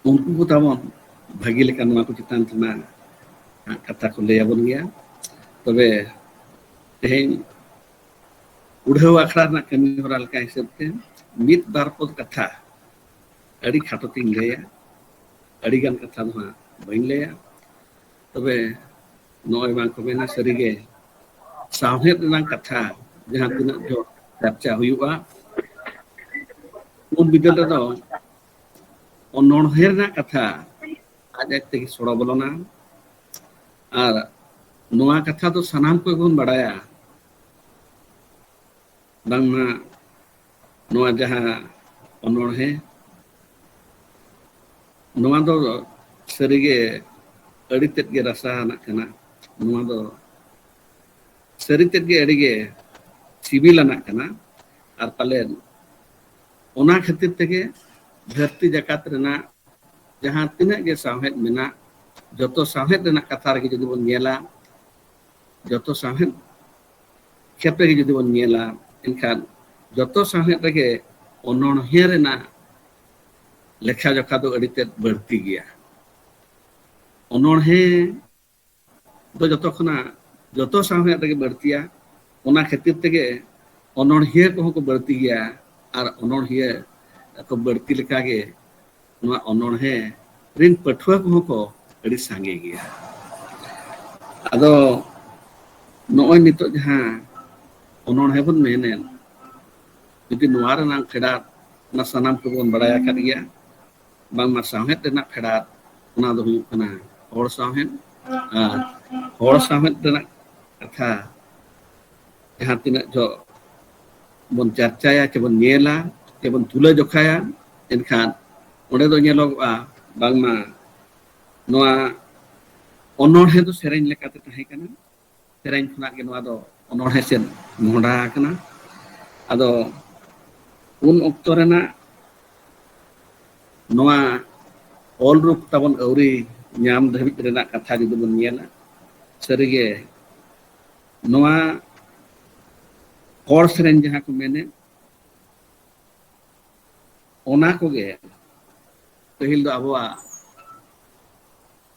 Speaker 3: ᱩᱱᱠᱩ ᱠᱚ ᱛᱟᱵᱚᱱ ᱵᱷᱟᱹᱜᱤ ᱞᱮᱠᱟ ᱱᱚᱣᱟ ᱠᱚ ᱪᱮᱛᱟᱱ ᱨᱮᱱᱟᱜ ᱠᱟᱛᱷᱟ ᱠᱚ ᱞᱟᱹᱭ ᱟᱵᱚᱱ ᱜᱮᱭᱟ ᱛᱚᱵᱮ ᱛᱮᱦᱮᱧ ᱩᱰᱷᱟᱹᱣ ᱟᱠᱷᱲᱟ ᱨᱮᱱᱟᱜ ᱠᱟᱹᱢᱤ ᱦᱚᱨᱟ ᱞᱮᱠᱟ ᱦᱤᱥᱟᱹᱵ ᱛᱮ ᱢᱤᱫ ᱵᱟᱨ ᱯᱚᱫ ᱠᱟᱛᱷᱟ ᱟᱹᱰᱤ ᱠᱷᱟᱴᱚ ᱛᱤᱧ ᱞᱟᱹᱭᱟ ᱟᱹᱰᱤ ᱜᱟᱱ ᱠᱟᱛᱷᱟ ᱫᱚ ᱦᱟᱸᱜ ᱵᱟᱹᱧ ᱞᱟᱹᱭᱟ ᱛᱚᱵᱮ ᱱᱚᱜᱼᱚᱭ ᱵᱟᱝ ᱠᱚ ᱢᱮᱱᱟ ᱥᱟᱹᱨᱤᱜᱮ ᱥᱟᱶᱦᱮᱫ ᱨᱮᱱᱟᱜ ᱠᱟᱛᱷᱟ ᱡᱟᱦᱟᱸ ᱛᱤᱱᱟᱹᱜ ᱡᱚ ᱪᱟᱨᱪᱟ ᱦᱩᱭᱩᱜᱼᱟ ᱩᱱ ᱵᱤᱫᱟᱹᱞ ᱨᱮᱫᱚ ᱚᱱᱚᱬᱦᱮ ᱨᱮᱱᱟᱜ ᱠᱟᱛᱷᱟ ᱟᱡ ᱟᱡ ᱛᱮᱜᱮ ᱥᱚᱲᱚ ᱵᱚᱞᱚᱱᱟ ᱟᱨ ᱱᱚᱣᱟ ᱠᱟᱛᱷᱟ ᱫᱚ ᱥᱟᱱᱟᱢ ᱠᱚ ᱵᱚᱱ ᱵᱟᱲᱟᱭᱟ ᱵᱟᱝᱢᱟ ᱱᱚᱣᱟ ᱡᱟᱦᱟᱸ ᱚᱱᱚᱬᱦᱮ ᱱᱚᱣᱟ ᱫᱚ ᱥᱟᱹᱨᱤᱜᱮ ᱟᱹᱰᱤ ᱛᱮᱫ ᱜᱮ ᱨᱟᱥᱟ ᱟᱱᱟᱜ ᱠᱟᱱᱟ ᱱᱚᱣᱟ ᱫᱚ ᱥᱟᱹᱨᱤ ᱛᱮᱫ ᱜᱮ ᱟᱹᱰᱤᱜᱮ ᱥᱤᱵᱤᱞᱟᱱᱟᱜ ᱠᱟᱱᱟ ᱟᱨ ᱯᱟᱞᱮᱱ ᱚᱱᱟ ᱠᱷᱟᱹᱛᱤᱨ ᱛᱮᱜᱮ ᱫᱷᱟᱹᱨᱛᱤ ᱡᱟᱠᱟᱛ ᱨᱮᱱᱟᱜ ᱡᱟᱦᱟᱸ ᱛᱤᱱᱟᱹᱜ ᱜᱮ ᱥᱟᱶᱦᱮᱫ ᱢᱮᱱᱟᱜ ᱡᱚᱛᱚ ᱥᱟᱶᱦᱮᱫ ᱨᱮᱱᱟᱜ ᱠᱟᱛᱷᱟ ᱨᱮᱜᱮ ᱡᱩᱫᱤ ᱵᱚᱱ ᱧᱮᱞᱟ ᱡᱚᱛᱚ ᱥᱟᱶᱦᱮᱫ ᱠᱷᱮᱛ ᱨᱮᱜᱮ ᱡᱩᱫᱤ ᱵᱚᱱ ᱧᱮᱞᱟ ᱮᱱᱠᱷᱟᱱ ᱡᱚᱛᱚ ᱥᱟᱶᱦᱮᱫ ᱨᱮᱜᱮ ᱚᱱᱚᱬᱦᱮᱸ ᱨᱮᱱᱟᱜ ᱞᱮᱠᱷᱟ ᱡᱚᱠᱷᱟ ᱫᱚ ᱟᱹᱰᱤ ᱛᱮᱫ ᱵᱟᱹᱲᱛᱤ ᱜᱮᱭᱟ ᱚᱱᱚᱬᱦᱮᱸ ᱫᱚ ᱡᱚᱛᱚ ᱠᱷᱚᱱᱟᱜ ᱡᱚᱛᱚ ᱥᱟᱶᱦᱮᱫ ᱨᱮᱜᱮ ᱵᱟᱹᱲᱛᱤᱭᱟ ᱚᱱᱟ ᱠᱷᱟᱹᱛᱤᱨ ᱛᱮᱜᱮ ᱚᱱᱚᱬᱦᱤᱭᱟᱹ ᱠᱚᱦᱚᱸ ᱠᱚ ᱵᱟᱹᱲᱛᱤ ᱜᱮᱭᱟ ᱟᱨ ᱚᱱᱚᱬᱦᱤᱭᱟᱹ ᱠᱚ ᱵᱟᱹᱲᱛᱤ ᱞᱮᱠᱟᱜᱮ ᱱᱚᱣᱟ ᱚᱱᱚᱬᱦᱮ ᱨᱤᱱ ᱯᱟᱹᱴᱷᱩᱣᱟᱹ ᱠᱚᱦᱚᱸ ᱠᱚ ᱟᱹᱰᱤ ᱥᱟᱸᱜᱮ ᱜᱮᱭᱟ ᱟᱫᱚ ᱱᱚᱜᱼᱚᱭ ᱱᱤᱛᱚᱜ ᱡᱟᱦᱟᱸ ᱚᱱᱚᱬᱦᱮ ᱵᱚᱱ ᱢᱮᱱᱮᱫ ᱡᱩᱫᱤ ᱱᱚᱣᱟ ᱨᱮᱱᱟᱜ ᱯᱷᱮᱰᱟᱛ ᱚᱱᱟ ᱥᱟᱱᱟᱢ ᱠᱚᱵᱚᱱ ᱵᱟᱲᱟᱭ ᱟᱠᱟᱫ ᱜᱮᱭᱟ ᱵᱟᱝᱢᱟ ᱥᱟᱶᱦᱮᱫ ᱨᱮᱱᱟᱜ ᱯᱷᱮᱰᱟᱛ ᱚᱱᱟ ᱫᱚ ᱦᱩᱭᱩᱜ ᱠᱟᱱᱟ ᱦᱚᱲ ᱥᱟᱶᱦᱮᱫ ᱟᱨ ᱦᱚᱲ ᱥᱟᱶᱦᱮᱫ ᱨᱮᱱᱟᱜ ᱠᱟᱛᱷᱟ ᱡᱟᱦᱟᱸ ᱛᱤᱱᱟᱹᱜ ᱡᱚᱜ ᱵᱚᱱ ᱪᱟᱨᱪᱟᱭᱟ ᱪᱮᱵᱚᱱ ᱧᱮᱞᱟ ᱪᱮᱵᱚᱱ ᱛᱩᱞᱟᱹ ᱡᱚᱠᱷᱟᱭᱟ ᱮᱱᱠᱷᱟᱱ ᱚᱸᱰᱮ ᱫᱚ ᱧᱮᱞᱚᱜᱚᱜᱼᱟ ᱵᱟᱝᱢᱟ ᱱᱚᱣᱟ ᱚᱱᱚᱬᱦᱮ ᱫᱚ ᱥᱮᱨᱮᱧ ᱞᱮᱠᱟᱛᱮ ᱛᱟᱦᱮᱸ ᱠᱟᱱᱟ ᱥᱮᱨᱮᱧ ᱠᱷᱚᱱᱟᱜ ᱜᱮ ᱱᱚᱣᱟ ᱫᱚ ᱚᱱᱚᱬᱦᱮᱸ ᱥᱮᱫ ᱢᱚᱦᱰᱟ ᱟᱠᱟᱱᱟ ᱟᱫᱚ ᱩᱱ ᱚᱠᱛᱚ ᱨᱮᱱᱟᱜ ᱱᱚᱣᱟ ᱚᱞ ᱨᱩᱯ ᱛᱟᱵᱚᱱ ᱟᱹᱣᱨᱤ ᱧᱟᱢ ᱫᱷᱟᱹᱵᱤᱡ ᱨᱮᱱᱟᱜ ᱠᱟᱛᱷᱟ ᱡᱩᱫᱤ ᱵᱚᱱ ᱧᱮᱞᱟ ᱥᱟᱹᱨᱤᱜᱮ ᱱᱚᱣᱟ ᱦᱚᱲ ᱥᱮᱨᱮᱧ ᱡᱟᱦᱟᱸ ᱠᱚ ᱢᱮᱱᱮᱫ ᱚᱱᱟ ᱠᱚᱜᱮ ᱯᱟᱹᱦᱤᱞ ᱫᱚ ᱟᱵᱚᱣᱟᱜ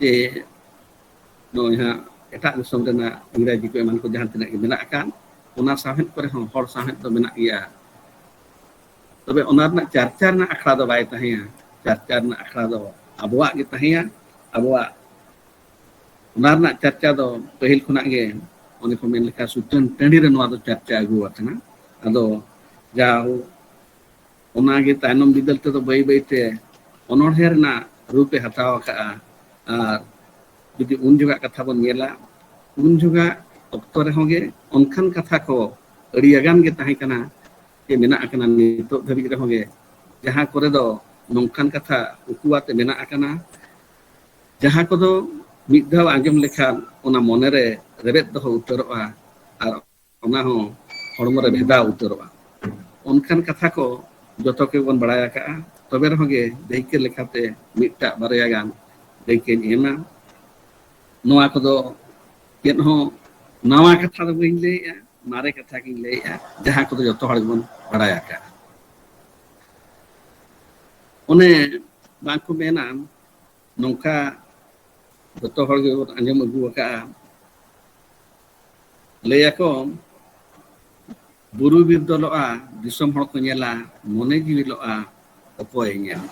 Speaker 3: ᱡᱮ ᱱᱚᱜᱼᱚᱭ ᱦᱟᱸᱜ ᱮᱴᱟᱜ ᱫᱤᱥᱚᱢ ᱨᱮᱱᱟᱜ ᱤᱝᱨᱟᱡᱤ ᱠᱚ ᱮᱢᱟᱱ ᱠᱚ ᱡᱟᱦᱟᱸ ᱛᱤᱱᱟᱹᱜ ᱜᱮ ᱢᱮᱱᱟᱜ ᱟᱠᱟᱫ ᱚᱱᱟ ᱥᱟᱶᱦᱮᱫ ᱠᱚᱨᱮ ᱦᱚᱸ ᱦᱚᱲ ᱥᱟᱶᱦᱮᱫ ᱫᱚ ᱢᱮᱱᱟᱜ ᱜᱮᱭᱟ ᱛᱚᱵᱮ ᱚᱱᱟ ᱨᱮᱱᱟᱜ ᱪᱟᱨᱪᱟ ᱨᱮᱱᱟᱜ ᱟᱠᱷᱲᱟ ᱫᱚ ᱵᱟᱭ ᱛᱟᱦᱮᱸᱭᱟ ᱪᱟᱨᱪᱟ ᱨᱮᱱᱟᱜ ᱟᱠᱷᱲᱟ ᱫᱚ ᱟᱵᱚᱣᱟᱜ ᱜᱮ ᱛᱟᱦᱮᱸᱭᱟ ᱟᱵᱚᱣᱟᱜ ᱚᱱᱟ ᱨᱮᱱᱟᱜ ᱪᱟᱨᱪᱟ ᱫᱚ ᱯᱟᱹᱦᱤᱞ ᱠᱷᱚᱱᱟᱜ ᱜᱮ ᱚᱱᱮ ᱠᱚ ᱢᱮᱱ ᱞᱮᱠᱟ ᱥᱩᱛᱟᱹᱱ ᱴᱟᱺᱰᱤ ᱨᱮ ᱱᱚᱣᱟ ᱫᱚ ᱪᱟᱨᱪᱟ ᱟᱹᱜᱩ ᱟᱠᱟᱱᱟ ᱟᱫᱚ ᱡᱟᱣ ᱚᱱᱟᱜᱮ ᱛᱟᱭᱱᱚᱢ ᱵᱤᱫᱟᱹᱞ ᱛᱮᱫᱚ ᱵᱟᱹᱭ ᱵᱟᱹᱭᱛᱮ ᱚᱱᱚᱬᱦᱮᱸ ᱨᱮᱱᱟᱜ ᱨᱩᱯ ᱮ ᱦᱟᱛᱟᱣ ᱟᱠᱟᱫᱼᱟ ᱟᱨ ᱡᱩᱫᱤ ᱩᱱ ᱡᱚᱦᱟᱜ ᱠᱟᱛᱷᱟ ᱵᱚᱱ ᱧᱮᱞᱟ ᱩᱱ ᱡᱚᱦᱟᱜ ᱚᱠᱛᱚ ᱨᱮᱦᱚᱸ ᱜᱮ ᱚᱱᱠᱟᱱ ᱠᱟᱛᱷᱟ ᱠᱚ ᱟᱹᱰᱤᱭᱟᱜᱟᱱ ᱜᱮ ᱛᱟᱦᱮᱸ ᱠᱟᱱᱟ ᱡᱮ ᱢᱮᱱᱟᱜ ᱟᱠᱟᱱᱟ ᱱᱤᱛᱚᱜ ᱫᱷᱟᱹᱵᱤᱡ ᱨᱮᱦᱚᱸ ᱜᱮ ᱡᱟᱦᱟᱸ ᱠᱚᱨᱮ ᱫᱚ ᱱᱚᱝᱠᱟᱱ ᱠᱟᱛᱷᱟ ᱩᱠᱩᱣᱟᱛᱮ ᱢᱮᱱᱟᱜ ᱟᱠᱟᱱᱟ ᱡᱟᱦᱟᱸ ᱠᱚᱫᱚ ᱢᱤᱫ ᱫᱷᱟᱣ ᱟᱸᱡᱚᱢ ᱞᱮᱠᱷᱟᱱ ᱚᱱᱟ ᱢᱚᱱᱮᱨᱮ ᱨᱮᱵᱮᱫ ᱫᱚᱦᱚ ᱩᱛᱟᱹᱨᱚᱜᱼᱟ ᱟᱨ ᱚᱱᱟ ᱦᱚᱸ ᱦᱚᱲᱢᱚ ᱨᱮ ᱵᱷᱮᱫᱟᱣ ᱩᱛᱟᱹᱨᱚᱜᱼᱟ ᱚᱱᱠᱟᱱ ᱠᱟᱛᱷᱟ ᱠᱚ ᱡᱚᱛᱚ ᱜᱮᱵᱚᱱ ᱵᱟᱲᱟᱭ ᱟᱠᱟᱜᱼᱟ ᱛᱚᱵᱮ ᱨᱮᱦᱚᱸ ᱜᱮ ᱫᱟᱹᱭᱠᱟᱹ ᱞᱮᱠᱟᱛᱮ ᱢᱤᱫᱴᱟᱜ ᱵᱟᱨᱭᱟ ᱜᱟᱱ ᱫᱟᱹᱭᱠᱟᱹᱧ ᱮᱢᱟ ᱱᱚᱣᱟ ᱠᱚᱫᱚ ᱪᱮᱫ ᱦᱚᱸ ᱱᱟᱣᱟ ᱠᱟᱛᱷᱟ ᱫᱚ ᱵᱟᱹᱧ ᱞᱟᱹᱭᱮᱜᱼᱟ ᱢᱟᱨᱮ ᱠᱟᱛᱷᱟ ᱜᱤᱧ ᱞᱟᱹᱭᱮᱜᱼᱟ ᱡᱟᱦᱟᱸ ᱠᱚᱫᱚ ᱡᱚᱛᱚ ᱦᱚᱲ ᱜᱮᱵᱚᱱ ᱵᱟᱲᱟᱭ ᱟᱠᱟᱜᱼᱟ ᱚᱱᱮ ᱵᱟᱝᱠᱚ ᱢᱮᱱᱟ ᱱᱚᱝᱠᱟ ᱡᱚᱛᱚ ᱦᱚᱲ ᱜᱮᱵᱚᱱ ᱟᱸᱡᱚᱢ ᱟᱹᱜᱩ ᱟᱠᱟᱫᱼᱟ ᱞᱟᱹᱭᱟᱠᱚ ᱵᱩᱨᱩ ᱵᱤᱨ ᱫᱚᱞᱚᱜᱼᱟ ᱫᱤᱥᱚᱢ ᱦᱚᱲ ᱠᱚ ᱧᱮᱞᱟ ᱢᱚᱱᱮ ᱡᱤᱣᱤ ᱞᱚᱜᱼᱟ ᱚᱠᱚᱭ ᱧᱮᱞ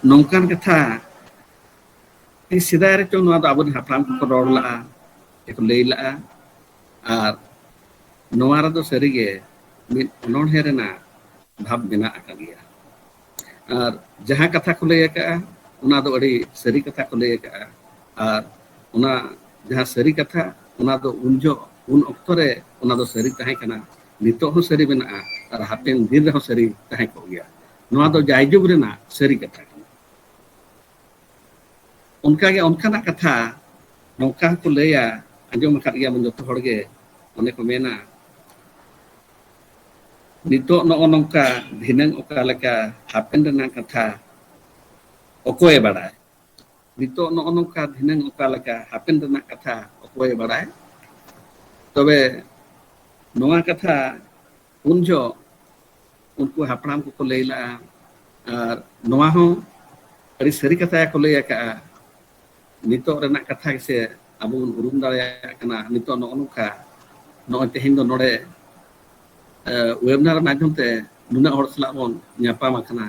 Speaker 3: ᱱᱚᱝᱠᱟᱱ ᱠᱟᱛᱷᱟ ᱥᱮᱫᱟᱭ ᱨᱮ ᱪᱚᱝ ᱱᱚᱣᱟ ᱫᱚ ᱟᱵᱚᱨᱮᱱ ᱦᱟᱯᱲᱟᱢ ᱠᱚᱠᱚ ᱨᱚᱲ ᱞᱟᱜᱼᱟ ᱥᱮᱠᱚ ᱞᱟᱹᱭ ᱞᱟᱜᱼᱟ ᱟᱨ ᱱᱚᱣᱟ ᱨᱮᱫᱚ ᱥᱟᱹᱨᱤᱜᱮ ᱢᱤᱫ ᱚᱱᱚᱬᱦᱮ ᱨᱮᱱᱟᱜ ᱵᱷᱟᱵᱽ ᱢᱮᱱᱟᱜ ᱟᱠᱟᱫ ᱜᱮᱭᱟ ᱟᱨ ᱡᱟᱦᱟᱸ ᱠᱟᱛᱷᱟ ᱠᱚ ᱞᱟᱹᱭ ᱟᱠᱟᱜᱼᱟ ᱚᱱᱟ ᱫᱚ ᱟᱹᱰᱤ ᱥᱟᱹᱨᱤ ᱠᱟᱛᱷᱟ ᱠᱚ ᱞᱟᱹᱭ ᱟᱠᱟᱜᱼᱟ ᱟᱨ ᱚᱱᱟ ᱡᱟᱦᱟᱸ ᱥᱟᱹᱨᱤ ᱠᱟᱛᱷᱟ ᱚᱱᱟ ᱫᱚ ᱩᱱ ᱡᱚᱦᱚᱜ ᱩᱱ ᱚᱠᱛᱚ ᱨᱮ ᱚᱱᱟ ᱫᱚ ᱥᱟᱹᱨᱤ ᱛᱟᱦᱮᱸ ᱠᱟᱱᱟ ᱱᱤᱛᱚᱜ ᱦᱚᱸ ᱥᱟᱹᱨᱤ ᱢᱮᱱᱟᱜᱼᱟ ᱟᱨ ᱦᱟᱯᱮᱱ ᱫᱤᱱ ᱨᱮᱦᱚᱸ ᱥᱟᱹᱨᱤ ᱛᱟᱦᱮᱸ ᱠᱚᱜ ᱜᱮᱭᱟ ᱱᱚᱣᱟ ᱫᱚ ᱡᱟᱭᱡᱩᱜᱽ ᱨᱮᱱᱟᱜ ᱥᱟᱹᱨᱤ ᱠᱟᱛᱷᱟ ᱠᱟᱱᱟ ᱚᱱᱠᱟᱜᱮ ᱚᱱᱠᱟᱱᱟᱜ ᱠᱟᱛᱷᱟ ᱱᱚᱝᱠᱟ ᱦᱚᱸᱠᱚ ᱞᱟᱹᱭᱟ ᱟᱸᱡᱚᱢ ᱟᱠᱟᱫ ᱜᱮᱭᱟᱵᱚᱱ ᱡᱚᱛᱚ ᱦᱚᱲᱜᱮ ᱚᱱᱮ ᱠᱚ ᱢᱮᱱᱟ ᱱᱤᱛᱚᱜ ᱱᱚᱜᱼᱚ ᱱᱚᱝᱠᱟ ᱫᱷᱤᱱᱟᱹᱝ ᱚᱠᱟ ᱞᱮᱠᱟ ᱦᱟᱯᱮᱱ ᱨᱮᱱᱟᱜ ᱠᱟᱛᱷᱟ ᱚᱠᱚᱭᱮ ᱵᱟᱲᱟᱭ ᱱᱤᱛᱚᱜ ᱱᱚᱜᱼᱚ ᱱᱚᱝᱠᱟ ᱫᱷᱤᱱᱟᱹᱝ ᱚᱠᱟ ᱞᱮᱠᱟ ᱦᱟᱯᱮᱱ ᱨᱮᱱᱟᱜ ᱠᱟᱛᱷᱟ ᱚᱠᱚᱭᱮ ᱵᱟᱲᱟᱭ ᱛᱚᱵᱮ ᱱᱚᱣᱟ ᱠᱟᱛᱷᱟ ᱩᱱ ᱡᱚᱦᱚᱜ ᱩᱱᱠᱩ ᱦᱟᱯᱲᱟᱢ ᱠᱚᱠᱚ ᱞᱟᱹᱭ ᱞᱟᱜᱼᱟ ᱟᱨ ᱱᱚᱣᱟ ᱦᱚᱸ ᱟᱹᱰᱤ ᱥᱟᱹᱨᱤ ᱠᱟᱛᱷᱟ ᱠᱚ ᱞᱟᱹᱭ ᱟᱠᱟᱜᱼᱟ ᱱᱤᱛᱚᱜ ᱨᱮᱱᱟᱜ ᱠᱟᱛᱷᱟ ᱜᱮᱥᱮ ᱟᱵᱚ ᱵᱚᱱ ᱩᱨᱩᱢ ᱫᱟᱲᱮᱭᱟᱜ ᱠᱟᱱᱟ ᱱᱤᱛᱚᱜ ᱱᱚᱜᱼᱚ ᱱᱚᱝᱠᱟ ᱱᱚᱜᱼᱚᱭ ᱛᱮᱦᱮᱧ ᱫᱚ ᱱᱚᱰᱮ ᱣᱮᱵᱱᱟᱨ ᱢᱟᱫᱽᱫᱷᱚᱢ ᱛᱮ ᱱᱩᱱᱟᱹᱜ ᱦᱚᱲ ᱥᱟᱞᱟᱜ ᱵᱚᱱ ᱧᱟᱯᱟᱢ ᱟᱠᱟᱱᱟ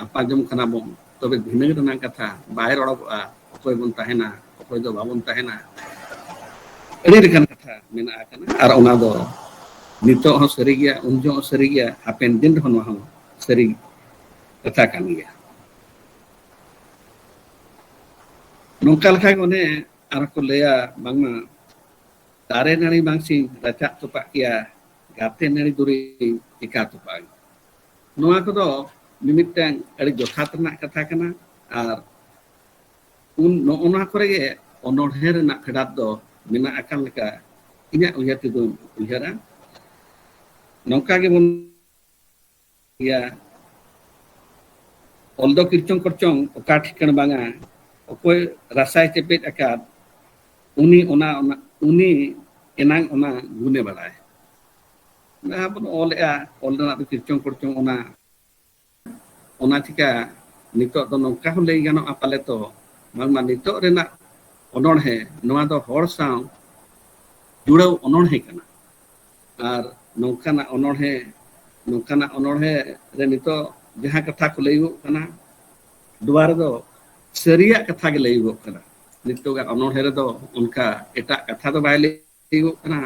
Speaker 3: ᱟᱯᱟᱡᱚᱢ ᱠᱟᱱᱟ ᱵᱚᱱ ᱛᱚᱵᱮ ᱵᱷᱤᱱᱟᱹ ᱨᱮᱱᱟᱜ ᱠᱟᱛᱷᱟ ᱵᱟᱭ ᱨᱚᱲᱚᱜᱚᱜᱼᱟ ᱚᱠᱚᱭ ᱵᱚᱱ ᱛᱟᱦᱮᱱᱟ ᱚᱠᱚᱭ ᱫᱚ ᱵᱟᱵᱚᱱ ᱛᱟᱦᱮᱱᱟ ᱟᱹᱰᱤ ᱞᱮᱠᱟᱱ ᱠᱟᱛᱷᱟ ᱢᱮᱱᱟᱜ ᱟᱠᱟᱱᱟ ᱟᱨ ᱚᱱᱟ ᱫᱚ ᱱᱤᱛᱚᱜ ᱦᱚᱸ ᱥᱟᱹᱨᱤ ᱜᱮᱭᱟ ᱩᱱ ᱡᱚᱦᱚᱜ ᱦᱚᱸ ᱥᱟᱹᱨᱤ ᱜᱮᱭᱟ ᱦᱟᱯᱮᱱ ᱫᱤᱱ ᱨᱮᱦᱚᱸ ᱱᱚᱣᱟ ᱦᱚᱸ ᱥᱟᱹᱨᱤ ᱠᱟᱛᱷᱟ ᱠᱟᱱ ᱜᱮᱭᱟ ᱱᱚᱝᱠᱟ ᱞᱮᱠᱷᱟᱱ ᱚᱱᱮ ᱟᱨᱦᱚᱸ ᱠᱚ ᱞᱟᱹᱭᱟ ᱵᱟᱝᱢᱟ ᱫᱟᱨᱮ ᱱᱟᱹᱲᱤ ᱵᱟᱝ ᱥᱤᱧ ᱨᱟᱪᱟᱜ ᱛᱚᱯᱟᱜ ᱠᱮᱭᱟ ᱜᱟᱛᱮ ᱱᱟᱹᱲᱤ ᱫᱩᱨᱤ ᱪᱤᱠᱟ ᱛᱚᱯᱟᱜ ᱱᱚᱣᱟ ᱠᱚᱫᱚ ᱢᱤᱢᱤᱫᱴᱟᱝ ᱟᱹᱰᱤ ᱡᱚᱛᱷᱟᱛ ᱨᱮᱱᱟᱜ ᱠᱟᱛᱷᱟ ᱠᱟᱱᱟ ᱟᱨ ᱩᱱ ᱱᱚᱜᱼᱚ ᱱᱚᱣᱟ ᱠᱚᱨᱮ ᱜᱮ ᱚᱱᱚᱬᱦᱮ ᱨᱮᱱᱟᱜ ᱯᱷᱮᱰᱟᱛ ᱫᱚ ᱢᱮᱱᱟᱜ ᱟᱠᱟᱱ ᱞᱮᱠᱟ ᱤᱧᱟᱹᱜ ᱩᱭᱦᱟᱹᱨ ᱛᱮᱫᱚᱧ ᱩᱭᱦᱟᱹᱨᱟ ᱱᱚᱝᱠᱟ ᱜᱮᱵᱚᱱ ᱜᱮᱭᱟ ᱚᱞ ᱫᱚ ᱠᱤᱨᱪᱚᱝ ᱠᱚᱨᱪᱚᱝ ᱚᱠᱟ ᱴᱷᱤᱠᱟᱹᱱ ᱵᱟᱝᱟ ᱚᱠᱚᱭ ᱨᱟᱥᱟᱭ ᱪᱮᱯᱮᱡ ᱟᱠᱟᱫ ᱩᱱᱤ ᱚᱱᱟ ᱚᱱᱟ ᱩᱱᱤ ᱮᱱᱟᱝ ᱚᱱᱟ ᱜᱩᱱᱮ ᱵᱟᱲᱟᱭ ᱡᱟᱦᱟᱸ ᱵᱚᱱ ᱚᱞᱮᱜᱼᱟ ᱚᱞ ᱨᱮᱱᱟᱜ ᱫᱚ ᱠᱤᱨᱪᱚᱝ ᱠᱚᱨᱪᱚᱝ ᱚᱱᱟ ᱚᱱᱟ ᱪᱤᱠᱟ ᱱᱤᱛᱚᱜ ᱫᱚ ᱱᱚᱝᱠᱟ ᱦᱚᱸ ᱞᱟᱹᱭ ᱜᱟᱱᱚᱜᱼᱟ ᱯᱟᱞᱮ ᱛᱚ ᱵᱟᱝᱢᱟ ᱱᱤᱛᱚᱜ ᱨᱮᱱᱟᱜ ᱚᱱᱚᱬᱦᱮ ᱱᱚᱣᱟ ᱫᱚ ᱦᱚᱲ ᱥᱟᱶ ᱡᱩᱲᱟᱹᱣ ᱚᱱᱚᱬᱦᱮ ᱠᱟᱱᱟ ᱟᱨ ᱱᱚᱝᱠᱟᱱᱟᱜ ᱚᱱᱚᱬᱦᱮᱸ ᱱᱚᱝᱠᱟᱱᱟᱜ ᱚᱱᱚᱬᱦᱮᱸ ᱨᱮ ᱱᱤᱛᱚᱜ ᱡᱟᱦᱟᱸ ᱠᱟᱛᱷᱟ ᱠᱚ ᱞᱟᱹᱭᱚᱜ ᱠᱟᱱᱟ ᱱᱚᱣᱟ ᱨᱮᱫᱚ ᱥᱟᱹᱨᱤᱭᱟᱜ ᱠᱟᱛᱷᱟ ᱜᱮ ᱞᱟᱹᱭᱚᱜᱚᱜ ᱠᱟᱱᱟ ᱱᱤᱛᱚᱜᱟᱜ ᱚᱱᱚᱬᱦᱮᱸ ᱨᱮᱫᱚ ᱚᱱᱠᱟ ᱮᱴᱟᱜ ᱠᱟᱛᱷᱟ ᱫᱚ ᱵᱟᱭ ᱞᱟᱹᱭ ᱞᱟᱹᱭᱚᱜᱚᱜ ᱠᱟᱱᱟ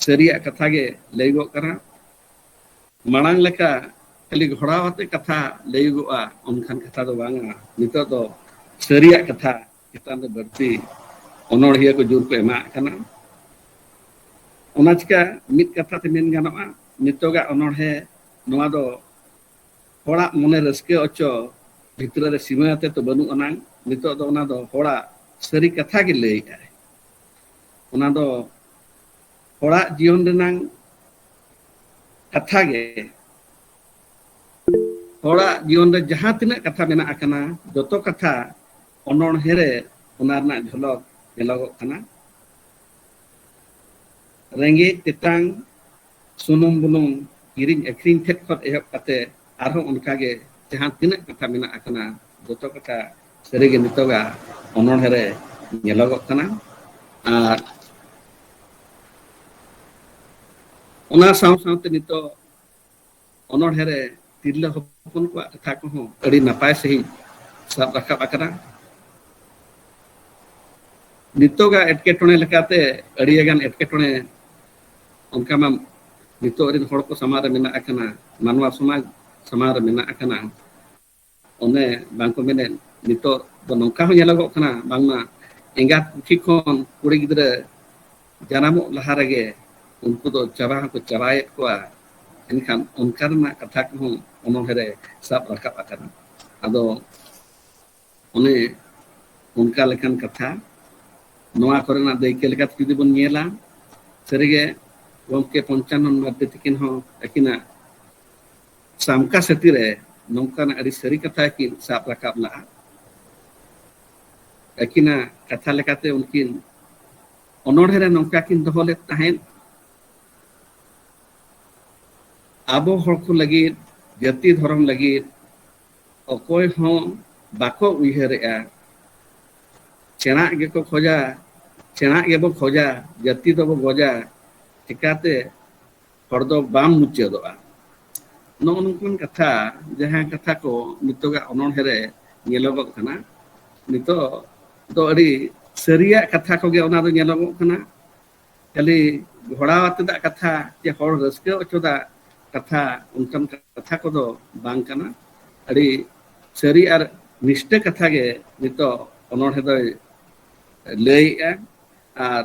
Speaker 3: ᱥᱟᱹᱨᱤᱭᱟᱜ ᱠᱟᱛᱷᱟ ᱜᱮ ᱞᱟᱹᱭᱚᱜᱚᱜ ᱠᱟᱱᱟ ᱢᱟᱲᱟᱝ ᱞᱮᱠᱟ ᱠᱷᱟᱹᱞᱤ ᱜᱷᱚᱲᱟᱣ ᱟᱛᱮ ᱠᱟᱛᱷᱟ ᱞᱟᱹᱭᱚᱜᱚᱜᱼᱟ ᱚᱱᱠᱟᱱ ᱠᱟᱛᱷᱟ ᱫᱚ ᱵᱟᱝᱟ ᱱᱤᱛᱚᱜ ᱫᱚ ᱥᱟᱹᱨᱤᱭᱟᱜ ᱠᱟᱛᱷᱟ ᱪᱮᱛᱟᱱ ᱨᱮ ᱵᱟᱹᱲᱛᱤ ᱚᱱᱚᱬᱦᱤᱭᱟᱹ ᱠᱚ ᱡᱳᱨ ᱠᱚ ᱮᱢᱟᱜ ᱠᱟᱱᱟ ᱚᱱᱟ ᱪᱤᱠᱟ ᱢᱤᱫ ᱠᱟᱛᱷᱟ ᱛᱮ ᱢᱮᱱ ᱜᱟᱱᱚᱜᱼᱟ ᱱᱤᱛᱚᱜᱟᱜ ᱚᱱᱚᱬᱦᱮ ᱱᱚᱣᱟ ᱫᱚ ᱦᱚᱲᱟᱜ ᱢᱚᱱᱮ ᱨᱟᱹᱥᱠᱟᱹ ᱚᱪᱚ ᱵᱷᱤᱛᱨᱟᱹ ᱨᱮ ᱥᱤᱢᱟᱹ ᱟᱛᱮ ᱛᱚ ᱵᱟᱹᱱᱩᱜ ᱟᱱᱟᱝ ᱱᱤᱛᱚᱜ ᱫᱚ ᱚᱱᱟ ᱫᱚ ᱦᱚᱲᱟᱜ ᱥᱟᱹᱨᱤ ᱠᱟᱛᱷᱟ ᱜᱮ ᱞᱟᱹᱭᱮᱫᱼᱟᱭ ᱚᱱᱟ ᱫᱚ ᱦᱚᱲᱟᱜ ᱡᱤᱭᱚᱱ ᱨᱮᱱᱟᱝ ᱠᱟᱛᱷᱟ ᱜᱮ ᱦᱚᱲᱟᱜ ᱡᱤᱭᱚᱱ ᱨᱮ ᱡᱟᱦᱟᱸ ᱛᱤᱱᱟᱹᱜ ᱠᱟᱛᱷᱟ ᱢᱮᱱᱟᱜ ᱟᱠᱟᱱᱟ ᱡᱚᱛᱚ ᱠᱟᱛᱷᱟ ᱚᱱᱚᱬᱦᱮ ᱨᱮ ᱚᱱᱟ ᱨᱮᱱᱟᱜ ᱡᱷᱚᱞᱚᱠ ᱧᱮᱞᱚᱜᱚᱜ ᱠᱟᱱᱟ ᱨᱮᱸᱜᱮᱡ ᱛᱮᱛᱟᱝ ᱥᱩᱱᱩᱢ ᱵᱩᱞᱩᱝ ᱠᱤᱨᱤᱧ ᱟᱹᱠᱷᱨᱤᱧ ᱴᱷᱮᱱ ᱠᱷᱚᱱ ᱮᱦᱚᱵ ᱠᱟᱛᱮ ᱟᱨᱦᱚᱸ ᱚᱱᱠᱟᱜᱮ ᱡᱟᱦᱟᱸ ᱛᱤᱱᱟᱹᱜ ᱠᱟᱛᱷᱟ ᱢᱮᱱᱟᱜ ᱟᱠᱟᱱᱟ ᱡᱚᱛᱚ ᱠᱟᱛᱷᱟ ᱥᱟᱹᱨᱤᱜᱮ ᱱᱤᱛᱚᱜᱟᱜ ᱚᱱᱚᱬᱦᱮ ᱨᱮ ᱧᱮᱞᱚᱜᱚᱜ ᱠᱟᱱᱟ ᱟᱨ ᱚᱱᱟ ᱥᱟᱶ ᱥᱟᱶᱛᱮ ᱱᱤᱛᱚᱜ ᱚᱱᱚᱬᱦᱮ ᱨᱮ ᱛᱤᱨᱞᱟᱹ ᱦᱚᱯᱚᱱ ᱠᱚᱣᱟᱜ ᱠᱟᱛᱷᱟ ᱠᱚᱦᱚᱸ ᱟᱹᱰᱤ ᱱᱟᱯᱟᱭ ᱥᱟᱺᱦᱤᱡ ᱥᱟᱵ ᱨᱟᱠᱟᱵ ᱟᱠᱟᱱᱟ ᱱᱤᱛᱚᱜᱟᱜ ᱮᱴᱠᱮᱴᱚᱬᱮ ᱞᱮᱠᱟᱛᱮ ᱟᱹᱰᱤᱜᱟᱱ ᱮᱴᱠᱮᱴᱚᱬᱮ ᱚᱱᱠᱟ ᱢᱟ ᱱᱤᱛᱚᱜ ᱨᱮᱱ ᱦᱚᱲ ᱠᱚ ᱥᱟᱢᱟᱝ ᱨᱮ ᱢᱮᱱᱟᱜ ᱟᱠᱟᱱᱟ ᱢᱟᱱᱣᱟ ᱥᱚᱢᱟᱡᱽ ᱥᱟᱢᱟᱝ ᱨᱮ ᱢᱮᱱᱟᱜ ᱟᱠᱟᱱᱟ ᱚᱱᱮ ᱵᱟᱝᱠᱚ ᱢᱮᱱᱮᱫ ᱱᱤᱛᱚᱜ ᱫᱚ ᱱᱚᱝᱠᱟ ᱦᱚᱸ ᱧᱮᱞᱚᱜᱚᱜ ᱠᱟᱱᱟ ᱵᱟᱝᱢᱟ ᱮᱸᱜᱟᱛ ᱯᱩᱠᱷᱤ ᱠᱷᱚᱱ ᱠᱩᱲᱤ ᱜᱤᱫᱽᱨᱟᱹ ᱡᱟᱱᱟᱢᱚᱜ ᱞᱟᱦᱟ ᱨᱮᱜᱮ ᱩᱱᱠᱩ ᱫᱚ ᱪᱟᱵᱟ ᱦᱚᱸᱠᱚ ᱪᱟᱵᱟᱭᱮᱫ ᱠᱚᱣᱟ ᱮᱱᱠᱷᱟᱱ ᱚᱱᱠᱟ ᱨᱮᱱᱟᱜ ᱠᱟᱛᱷᱟ ᱠᱚᱦᱚᱸ ᱚᱱᱚᱬᱦᱮ ᱨᱮ ᱥᱟᱵ ᱨᱟᱠᱟᱵ ᱟᱠᱟᱱᱟ ᱟᱫᱚ ᱚᱱᱮ ᱚᱱᱠᱟ ᱞᱮᱠᱟᱱ ᱠᱟᱛᱷᱟ ᱱᱚᱣᱟ ᱠᱚᱨᱮᱱᱟᱜ ᱫᱟᱹᱭᱠᱟᱹ ᱞᱮᱠᱟᱛᱮ ᱡᱩᱫᱤ ᱵᱚᱱ ᱧᱮᱞᱟ ᱥᱟᱹᱨᱤᱜᱮ ᱜᱚᱢᱠᱮ ᱯᱚᱧᱪᱟᱱᱚᱱ ᱢᱟᱨᱰᱤ ᱛᱟᱹᱠᱤᱱ ᱦᱚᱸ ᱟᱹᱠᱤᱱᱟᱜ ᱥᱟᱢᱠᱟ ᱥᱟᱹᱛᱤ ᱨᱮ ᱱᱚᱝᱠᱟᱱᱟᱜ ᱟᱹᱰᱤ ᱥᱟᱹᱨᱤ ᱠᱟᱛᱷᱟ ᱠᱤᱱ ᱥᱟᱵ ᱨᱟᱠᱟᱵ ᱞᱟᱜᱼᱟ ᱟᱹᱠᱤᱱᱟᱜ ᱠᱟᱛᱷᱟ ᱞᱮᱠᱟᱛᱮ ᱩᱱᱠᱤᱱ ᱚᱱᱚᱬᱦᱮ ᱨᱮ ᱱᱚᱝᱠᱟ ᱠᱤᱱ ᱫᱚᱦᱚ ᱞᱮᱫ ᱛᱟᱦᱮᱸᱫ ᱟᱵᱚ ᱦᱚᱲ ᱠᱚ ᱞᱟᱹᱜᱤᱫ ᱡᱟᱹᱛᱤ ᱫᱷᱚᱨᱚᱢ ᱞᱟᱹᱜᱤᱫ ᱚᱠᱚᱭ ᱦᱚᱸ ᱵᱟᱠᱚ ᱩᱭᱦᱟᱹᱨᱮᱜᱼᱟ ᱥᱮᱬᱟᱜ ᱜᱮᱠᱚ ᱠᱷᱚᱡᱟ ᱥᱮᱬᱟᱜ ᱜᱮᱵᱚ ᱠᱷᱚᱡᱟ ᱡᱟᱹᱛᱤ ᱫᱚᱵᱚ ᱜᱚᱡᱟ ᱪᱤᱠᱟᱛᱮ ᱦᱚᱲ ᱫᱚ ᱵᱟᱢ ᱢᱩᱪᱟᱹᱫᱚᱜᱼᱟ ᱱᱚᱜᱼᱚ ᱱᱚᱝᱠᱟᱱ ᱠᱟᱛᱷᱟ ᱡᱟᱦᱟᱸ ᱠᱟᱛᱷᱟ ᱠᱚ ᱱᱤᱛᱚᱜᱟᱜ ᱚᱱᱚᱬᱦᱮ ᱨᱮ ᱧᱮᱞᱚᱜᱚᱜ ᱠᱟᱱᱟ ᱱᱤᱛᱚᱜ ᱫᱚ ᱟᱹᱰᱤ ᱥᱟᱹᱨᱤᱭᱟᱜ ᱠᱟᱛᱷᱟ ᱠᱚᱜᱮ ᱚᱱᱟ ᱫᱚ ᱧᱮᱞᱚᱜᱚᱜ ᱠᱟᱱᱟ ᱠᱷᱟᱹᱞᱤ ᱜᱷᱚᱲᱟ ᱟᱛᱮᱫᱟᱜ ᱠᱟᱛᱷᱟ ᱡᱮ ᱦᱚᱲ ᱨᱟᱹᱥᱠᱟᱹ ᱚᱪᱚᱫᱟᱜ ᱠᱟᱛᱷᱟ ᱚᱱᱠᱟᱱ ᱠᱟᱛᱷᱟ ᱠᱚᱫᱚ ᱵᱟᱝ ᱠᱟᱱᱟ ᱟᱹᱰᱤ ᱥᱟᱹᱨᱤ ᱟᱨ ᱱᱤᱥᱴᱟᱹ ᱠᱟᱛᱷᱟ ᱜᱮ ᱱᱤᱛᱚᱜ ᱚᱱᱚᱬᱦᱮ ᱫᱚᱭ ᱞᱟᱹᱭᱮᱜᱼᱟ ᱟᱨ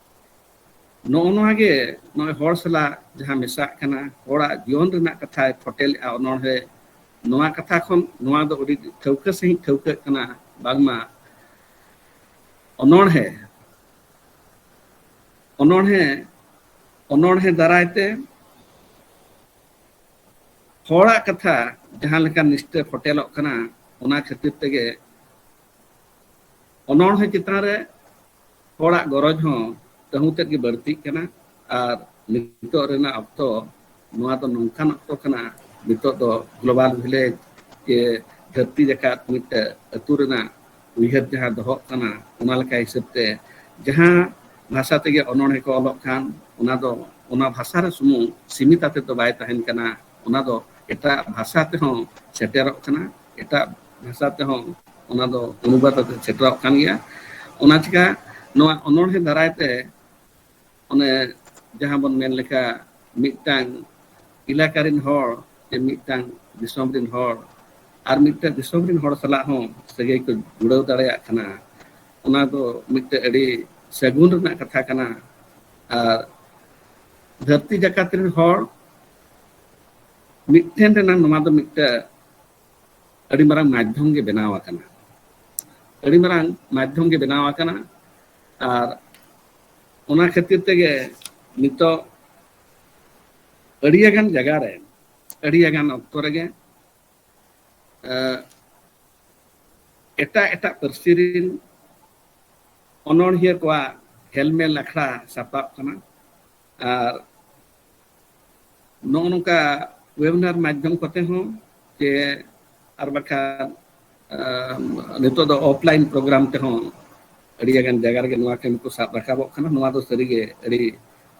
Speaker 3: ᱱᱚᱜᱼᱚ ᱱᱚᱣᱟ ᱜᱮ ᱱᱚᱜᱼᱚᱭ ᱦᱚᱲ ᱥᱟᱞᱟᱜ ᱡᱟᱦᱟᱸ ᱢᱮᱥᱟᱜ ᱠᱟᱱᱟ ᱦᱚᱲᱟᱜ ᱡᱤᱭᱚᱱ ᱨᱮᱱᱟᱜ ᱠᱟᱛᱷᱟᱭ ᱯᱷᱚᱴᱮᱞᱮᱜᱼᱟ ᱚᱱᱚᱬᱦᱮ ᱱᱚᱣᱟ ᱠᱟᱛᱷᱟ ᱠᱷᱚᱱ ᱱᱚᱣᱟ ᱫᱚ ᱟᱹᱰᱤ ᱴᱷᱟᱹᱣᱠᱟᱹ ᱥᱟᱺᱦᱤᱡ ᱴᱷᱟᱹᱣᱠᱟᱹᱜ ᱠᱟᱱᱟ ᱵᱟᱝᱢᱟ ᱚᱱᱚᱬᱦᱮ ᱚᱱᱚᱬᱦᱮ ᱚᱱᱚᱬᱦᱮ ᱫᱟᱨᱟᱭ ᱛᱮ ᱦᱚᱲᱟᱜ ᱠᱟᱛᱷᱟ ᱡᱟᱦᱟᱸ ᱞᱮᱠᱟ ᱱᱤᱥᱴᱟᱹ ᱯᱷᱚᱴᱮᱞᱚᱜ ᱠᱟᱱᱟ ᱚᱱᱟ ᱠᱷᱟᱹᱛᱤᱨ ᱛᱮᱜᱮ ᱚᱱᱚᱬᱦᱮ ᱪᱮᱛᱟᱱ ᱨᱮ ᱦᱚᱲᱟᱜ ᱜᱚᱨᱚᱡᱽ ᱦᱚᱸ ᱛᱟᱹᱦᱩᱸ ᱛᱮᱫ ᱜᱮ ᱵᱟᱹᱲᱛᱤᱜ ᱠᱟᱱᱟ ᱟᱨ ᱱᱤᱛᱚᱜ ᱨᱮᱱᱟᱜ ᱚᱠᱛᱚ ᱱᱚᱣᱟ ᱫᱚ ᱱᱚᱝᱠᱟᱱ ᱚᱠᱛᱚ ᱠᱟᱱᱟ ᱱᱤᱛᱚᱜ ᱫᱚ ᱜᱞᱳᱵᱟᱞ ᱵᱷᱤᱞᱮᱡᱽ ᱡᱮ ᱫᱷᱟᱹᱨᱛᱤ ᱡᱟᱠᱟᱛ ᱢᱤᱫᱴᱮᱡ ᱟᱹᱛᱩ ᱨᱮᱱᱟᱜ ᱩᱭᱦᱟᱹᱨ ᱡᱟᱦᱟᱸ ᱫᱚᱦᱚᱜ ᱠᱟᱱᱟ ᱚᱱᱟ ᱞᱮᱠᱟ ᱦᱤᱥᱟᱹᱵ ᱛᱮ ᱡᱟᱦᱟᱸ ᱵᱷᱟᱥᱟ ᱛᱮᱜᱮ ᱚᱱᱚᱬᱦᱮ ᱠᱚ ᱚᱞᱚᱜ ᱠᱟᱱ ᱚᱱᱟ ᱫᱚ ᱚᱱᱟ ᱵᱷᱟᱥᱟ ᱨᱮ ᱥᱩᱢᱩᱝ ᱥᱤᱢᱤᱛ ᱟᱛᱮ ᱫᱚ ᱵᱟᱭ ᱛᱟᱦᱮᱱ ᱠᱟᱱᱟ ᱚᱱᱟ ᱫᱚ ᱮᱴᱟᱜ ᱵᱷᱟᱥᱟ ᱛᱮᱦᱚᱸ ᱥᱮᱴᱮᱨᱚᱜ ᱠᱟᱱᱟ ᱮᱴᱟᱜ ᱵᱷᱟᱥᱟ ᱛᱮᱦᱚᱸ ᱚᱱᱟ ᱫᱚ ᱚᱱᱩᱵᱟᱫ ᱠᱟᱛᱮ ᱥᱮᱴᱮᱨᱚᱜ ᱠᱟᱱ ᱜᱮᱭᱟ ᱚᱱᱟ ᱪᱤᱠᱟᱹ ᱱᱚᱣᱟ ᱚᱱᱚᱬᱦᱮ ᱫᱟᱨᱟᱭ ᱛᱮ ᱚᱱᱮ ᱡᱟᱦᱟᱸ ᱵᱚᱱ ᱢᱮᱱ ᱞᱮᱠᱟ ᱢᱤᱫᱴᱟᱝ ᱮᱞᱟᱠᱟ ᱨᱮᱱ ᱦᱚᱲ ᱥᱮ ᱢᱤᱫᱴᱟᱝ ᱫᱤᱥᱚᱢ ᱨᱮᱱ ᱦᱚᱲ ᱟᱨ ᱢᱤᱫᱴᱮᱱ ᱫᱤᱥᱚᱢ ᱨᱮᱱ ᱦᱚᱲ ᱥᱟᱞᱟᱜ ᱦᱚᱸ ᱥᱟᱹᱜᱟᱹᱭ ᱠᱚ ᱡᱩᱲᱟᱹᱣ ᱫᱟᱲᱮᱭᱟᱜ ᱠᱟᱱᱟ ᱚᱱᱟ ᱫᱚ ᱢᱤᱫᱴᱮᱱ ᱟᱹᱰᱤ ᱥᱟᱹᱜᱩᱱ ᱨᱮᱱᱟᱜ ᱠᱟᱛᱷᱟ ᱠᱟᱱᱟ ᱟᱨ ᱫᱷᱟᱹᱨᱛᱤ ᱡᱟᱠᱟᱛ ᱨᱮᱱ ᱦᱚᱲ ᱢᱤᱫᱴᱮᱱ ᱨᱮᱱᱟᱜ ᱱᱚᱣᱟ ᱫᱚ ᱢᱤᱫᱴᱮᱱ ᱟᱹᱰᱤ ᱢᱟᱨᱟᱝ ᱢᱟᱫᱽᱫᱷᱚᱢ ᱜᱮ ᱵᱮᱱᱟᱣ ᱟᱠᱟᱱᱟ ᱟᱹᱰᱤ ᱢᱟᱨᱟᱝ ᱢᱟᱫᱽᱫᱷᱚᱢ ᱜᱮ ᱵᱮᱱᱟᱣ ᱟᱠᱟᱱᱟ ᱟᱨ ᱚᱱᱟ ᱠᱷᱟᱹᱛᱤᱨ ᱛᱮᱜᱮ ᱱᱤᱛᱚᱜ ᱟᱹᱰᱤᱭᱟᱜᱟᱱ ᱡᱟᱭᱜᱟ ᱨᱮ ᱟᱹᱰᱤᱭᱟᱜᱟᱱ ᱚᱠᱛᱚ ᱨᱮᱜᱮ ᱮᱴᱟᱜ ᱮᱴᱟᱜ ᱯᱟᱹᱨᱥᱤ ᱨᱤᱱ ᱚᱱᱚᱬᱦᱤᱭᱟᱹ ᱠᱚᱣᱟᱜ ᱦᱮᱞᱢᱮᱞ ᱟᱠᱷᱲᱟ ᱥᱟᱯᱲᱟᱣ ᱠᱟᱱᱟ ᱟᱨ ᱱᱚᱜᱼᱚ ᱱᱚᱝᱠᱟ ᱣᱮᱵᱤᱱᱟᱨ ᱢᱟᱫᱽᱫᱷᱚᱢ ᱠᱚᱛᱮ ᱦᱚᱸ ᱡᱮ ᱟᱨ ᱵᱟᱠᱷᱟᱱ ᱱᱤᱛᱚᱜ ᱫᱚ ᱚᱯᱷᱞᱟᱭᱤᱱ ᱯᱨᱳᱜᱨᱟᱢ ᱛᱮᱦᱚᱸ ᱟᱹᱰᱤ ᱜᱟᱱ ᱡᱟᱭᱜᱟ ᱨᱮᱜᱮ ᱱᱚᱣᱟ ᱠᱟᱹᱢᱤ ᱠᱚ ᱥᱟᱵ ᱨᱟᱠᱟᱵᱚᱜ ᱠᱟᱱᱟ ᱱᱚᱣᱟ ᱫᱚ ᱥᱟᱹᱨᱤᱜᱮ ᱟᱹᱰᱤ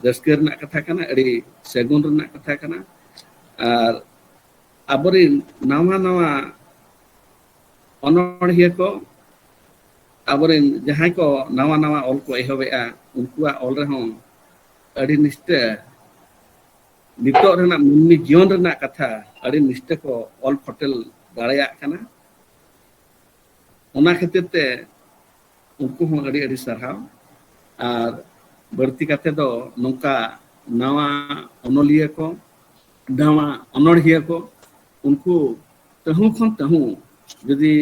Speaker 3: ᱨᱟᱹᱥᱠᱟᱹ ᱨᱮᱱᱟᱜ ᱠᱟᱛᱷᱟ ᱠᱟᱱᱟ ᱟᱹᱰᱤ ᱥᱟᱹᱜᱩᱱ ᱨᱮᱱᱟᱜ ᱠᱟᱛᱷᱟ ᱠᱟᱱᱟ ᱟᱨ ᱟᱵᱚᱨᱮᱱ ᱱᱟᱣᱟ ᱱᱟᱣᱟ ᱚᱱᱚᱬᱦᱤᱭᱟᱹ ᱠᱚ ᱟᱵᱚᱨᱮᱱ ᱡᱟᱦᱟᱸᱭ ᱠᱚ ᱱᱟᱣᱟ ᱱᱟᱣᱟ ᱚᱞ ᱠᱚ ᱮᱦᱚᱵᱮᱜᱼᱟ ᱩᱱᱠᱩᱣᱟᱜ ᱚᱞ ᱨᱮᱦᱚᱸ ᱟᱹᱰᱤ ᱱᱤᱥᱴᱟᱹ ᱱᱤᱛᱚᱜ ᱨᱮᱱᱟᱜ ᱢᱟᱹᱱᱢᱤ ᱡᱤᱭᱚᱱ ᱨᱮᱱᱟᱜ ᱠᱟᱛᱷᱟ ᱟᱹᱰᱤ ᱱᱤᱥᱴᱟᱹ ᱠᱚ ᱚᱞ ᱯᱷᱚᱴᱮᱞ ᱫᱟᱲᱮᱭᱟᱜ ᱠᱟᱱᱟ ᱚᱱᱟ ᱠᱷᱟᱹᱛᱤᱨ ᱛᱮ ᱩᱱᱠᱩ ᱦᱚᱸ ᱟᱹᱰᱤ ᱟᱹᱰᱤ ᱥᱟᱨᱦᱟᱣ ᱟᱨ ᱵᱟᱹᱲᱛᱤ ᱠᱟᱛᱮ ᱫᱚ ᱱᱚᱝᱠᱟ ᱱᱟᱣᱟ ᱚᱱᱚᱞᱤᱭᱟᱹ ᱠᱚ ᱱᱟᱣᱟ ᱚᱱᱚᱬᱦᱤᱭᱟᱹ ᱠᱚ ᱩᱱᱠᱩ ᱛᱟᱹᱦᱩ ᱠᱷᱚᱱ ᱛᱟᱹᱦᱩ ᱡᱩᱫᱤ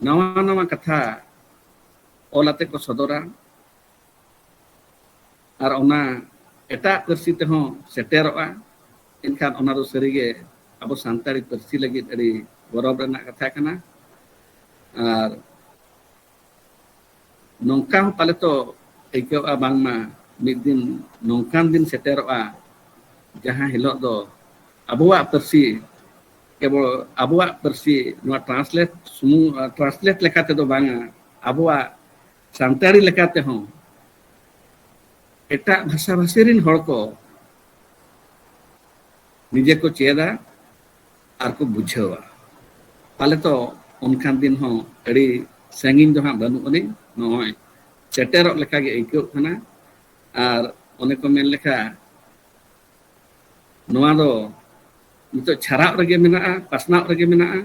Speaker 3: ᱱᱟᱣᱟ ᱱᱟᱣᱟ ᱠᱟᱛᱷᱟ ᱚᱞ ᱟᱛᱮ ᱠᱚ ᱥᱚᱫᱚᱨᱟ ᱟᱨ ᱚᱱᱟ ᱮᱴᱟᱜ ᱯᱟᱹᱨᱥᱤ ᱛᱮᱦᱚᱸ ᱥᱮᱴᱮᱨᱚᱜᱼᱟ ᱮᱱᱠᱷᱟᱱ ᱚᱱᱟ ᱫᱚ ᱥᱟᱹᱨᱤᱜᱮ ᱟᱵᱚ ᱥᱟᱱᱛᱟᱲᱤ ᱯᱟᱹᱨᱥᱤ ᱞᱟᱹᱜᱤᱫ ᱟᱹᱰᱤ ᱜᱚᱨᱚᱵᱽ ᱨᱮᱱᱟᱜ ᱠᱟᱛᱷᱟ ᱠᱟᱱᱟ ᱟᱨ ᱱᱚᱝᱠᱟ ᱦᱚᱸ ᱯᱟᱞᱮ ᱛᱚ ᱟᱹᱭᱠᱟᱹᱣᱚᱜᱼᱟ ᱵᱟᱝᱢᱟ ᱢᱤᱫ ᱫᱤᱱ ᱱᱚᱝᱠᱟᱱ ᱫᱤᱱ ᱥᱮᱴᱮᱨᱚᱜᱼᱟ ᱡᱟᱦᱟᱸ ᱦᱤᱞᱳᱜ ᱫᱚ ᱟᱵᱚᱣᱟᱜ ᱯᱟᱹᱨᱥᱤ ᱠᱮᱵᱚᱞ ᱟᱵᱚᱣᱟᱜ ᱯᱟᱹᱨᱥᱤ ᱱᱚᱣᱟ ᱴᱨᱟᱱᱥᱞᱮᱴ ᱥᱩᱢᱩᱝ ᱴᱨᱟᱱᱥᱞᱮᱴ ᱞᱮᱠᱟ ᱛᱮᱫᱚ ᱵᱟᱝᱟ ᱟᱵᱚᱣᱟᱜ ᱥᱟᱱᱛᱟᱲᱤ ᱞᱮᱠᱟ ᱛᱮᱦᱚᱸ ᱮᱴᱟᱜ ᱵᱷᱟᱥᱟᱵᱷᱟᱥᱤ ᱨᱤᱱ ᱦᱚᱲ ᱠᱚ ᱱᱤᱡᱮ ᱠᱚ ᱪᱮᱫᱟ ᱟᱨ ᱠᱚ ᱵᱩᱡᱷᱟᱹᱣᱟ ᱛᱟᱦᱚᱞᱮ ᱛᱚ ᱚᱱᱠᱟᱱ ᱫᱤᱱ ᱦᱚᱸ ᱟᱹᱰᱤ ᱥᱟᱺᱜᱤᱧ ᱫᱚ ᱦᱟᱸᱜ ᱵᱟᱹᱱᱩᱜ ᱟᱹᱱᱤᱡ ᱱᱚᱜᱼᱚᱭ ᱥᱮᱴᱮᱨᱚᱜ ᱞᱮᱠᱟ ᱜᱮ ᱟᱹᱭᱠᱟᱹᱜ ᱠᱟᱱᱟ ᱟᱨ ᱚᱱᱮ ᱠᱚ ᱢᱮᱱ ᱞᱮᱠᱟ ᱱᱚᱣᱟ ᱫᱚ ᱱᱤᱛᱚᱜ ᱪᱷᱟᱨᱟᱜ ᱨᱮᱜᱮ ᱢᱮᱱᱟᱜᱼᱟ ᱯᱟᱥᱱᱟᱣ ᱨᱮᱜᱮ ᱢᱮᱱᱟᱜᱼᱟ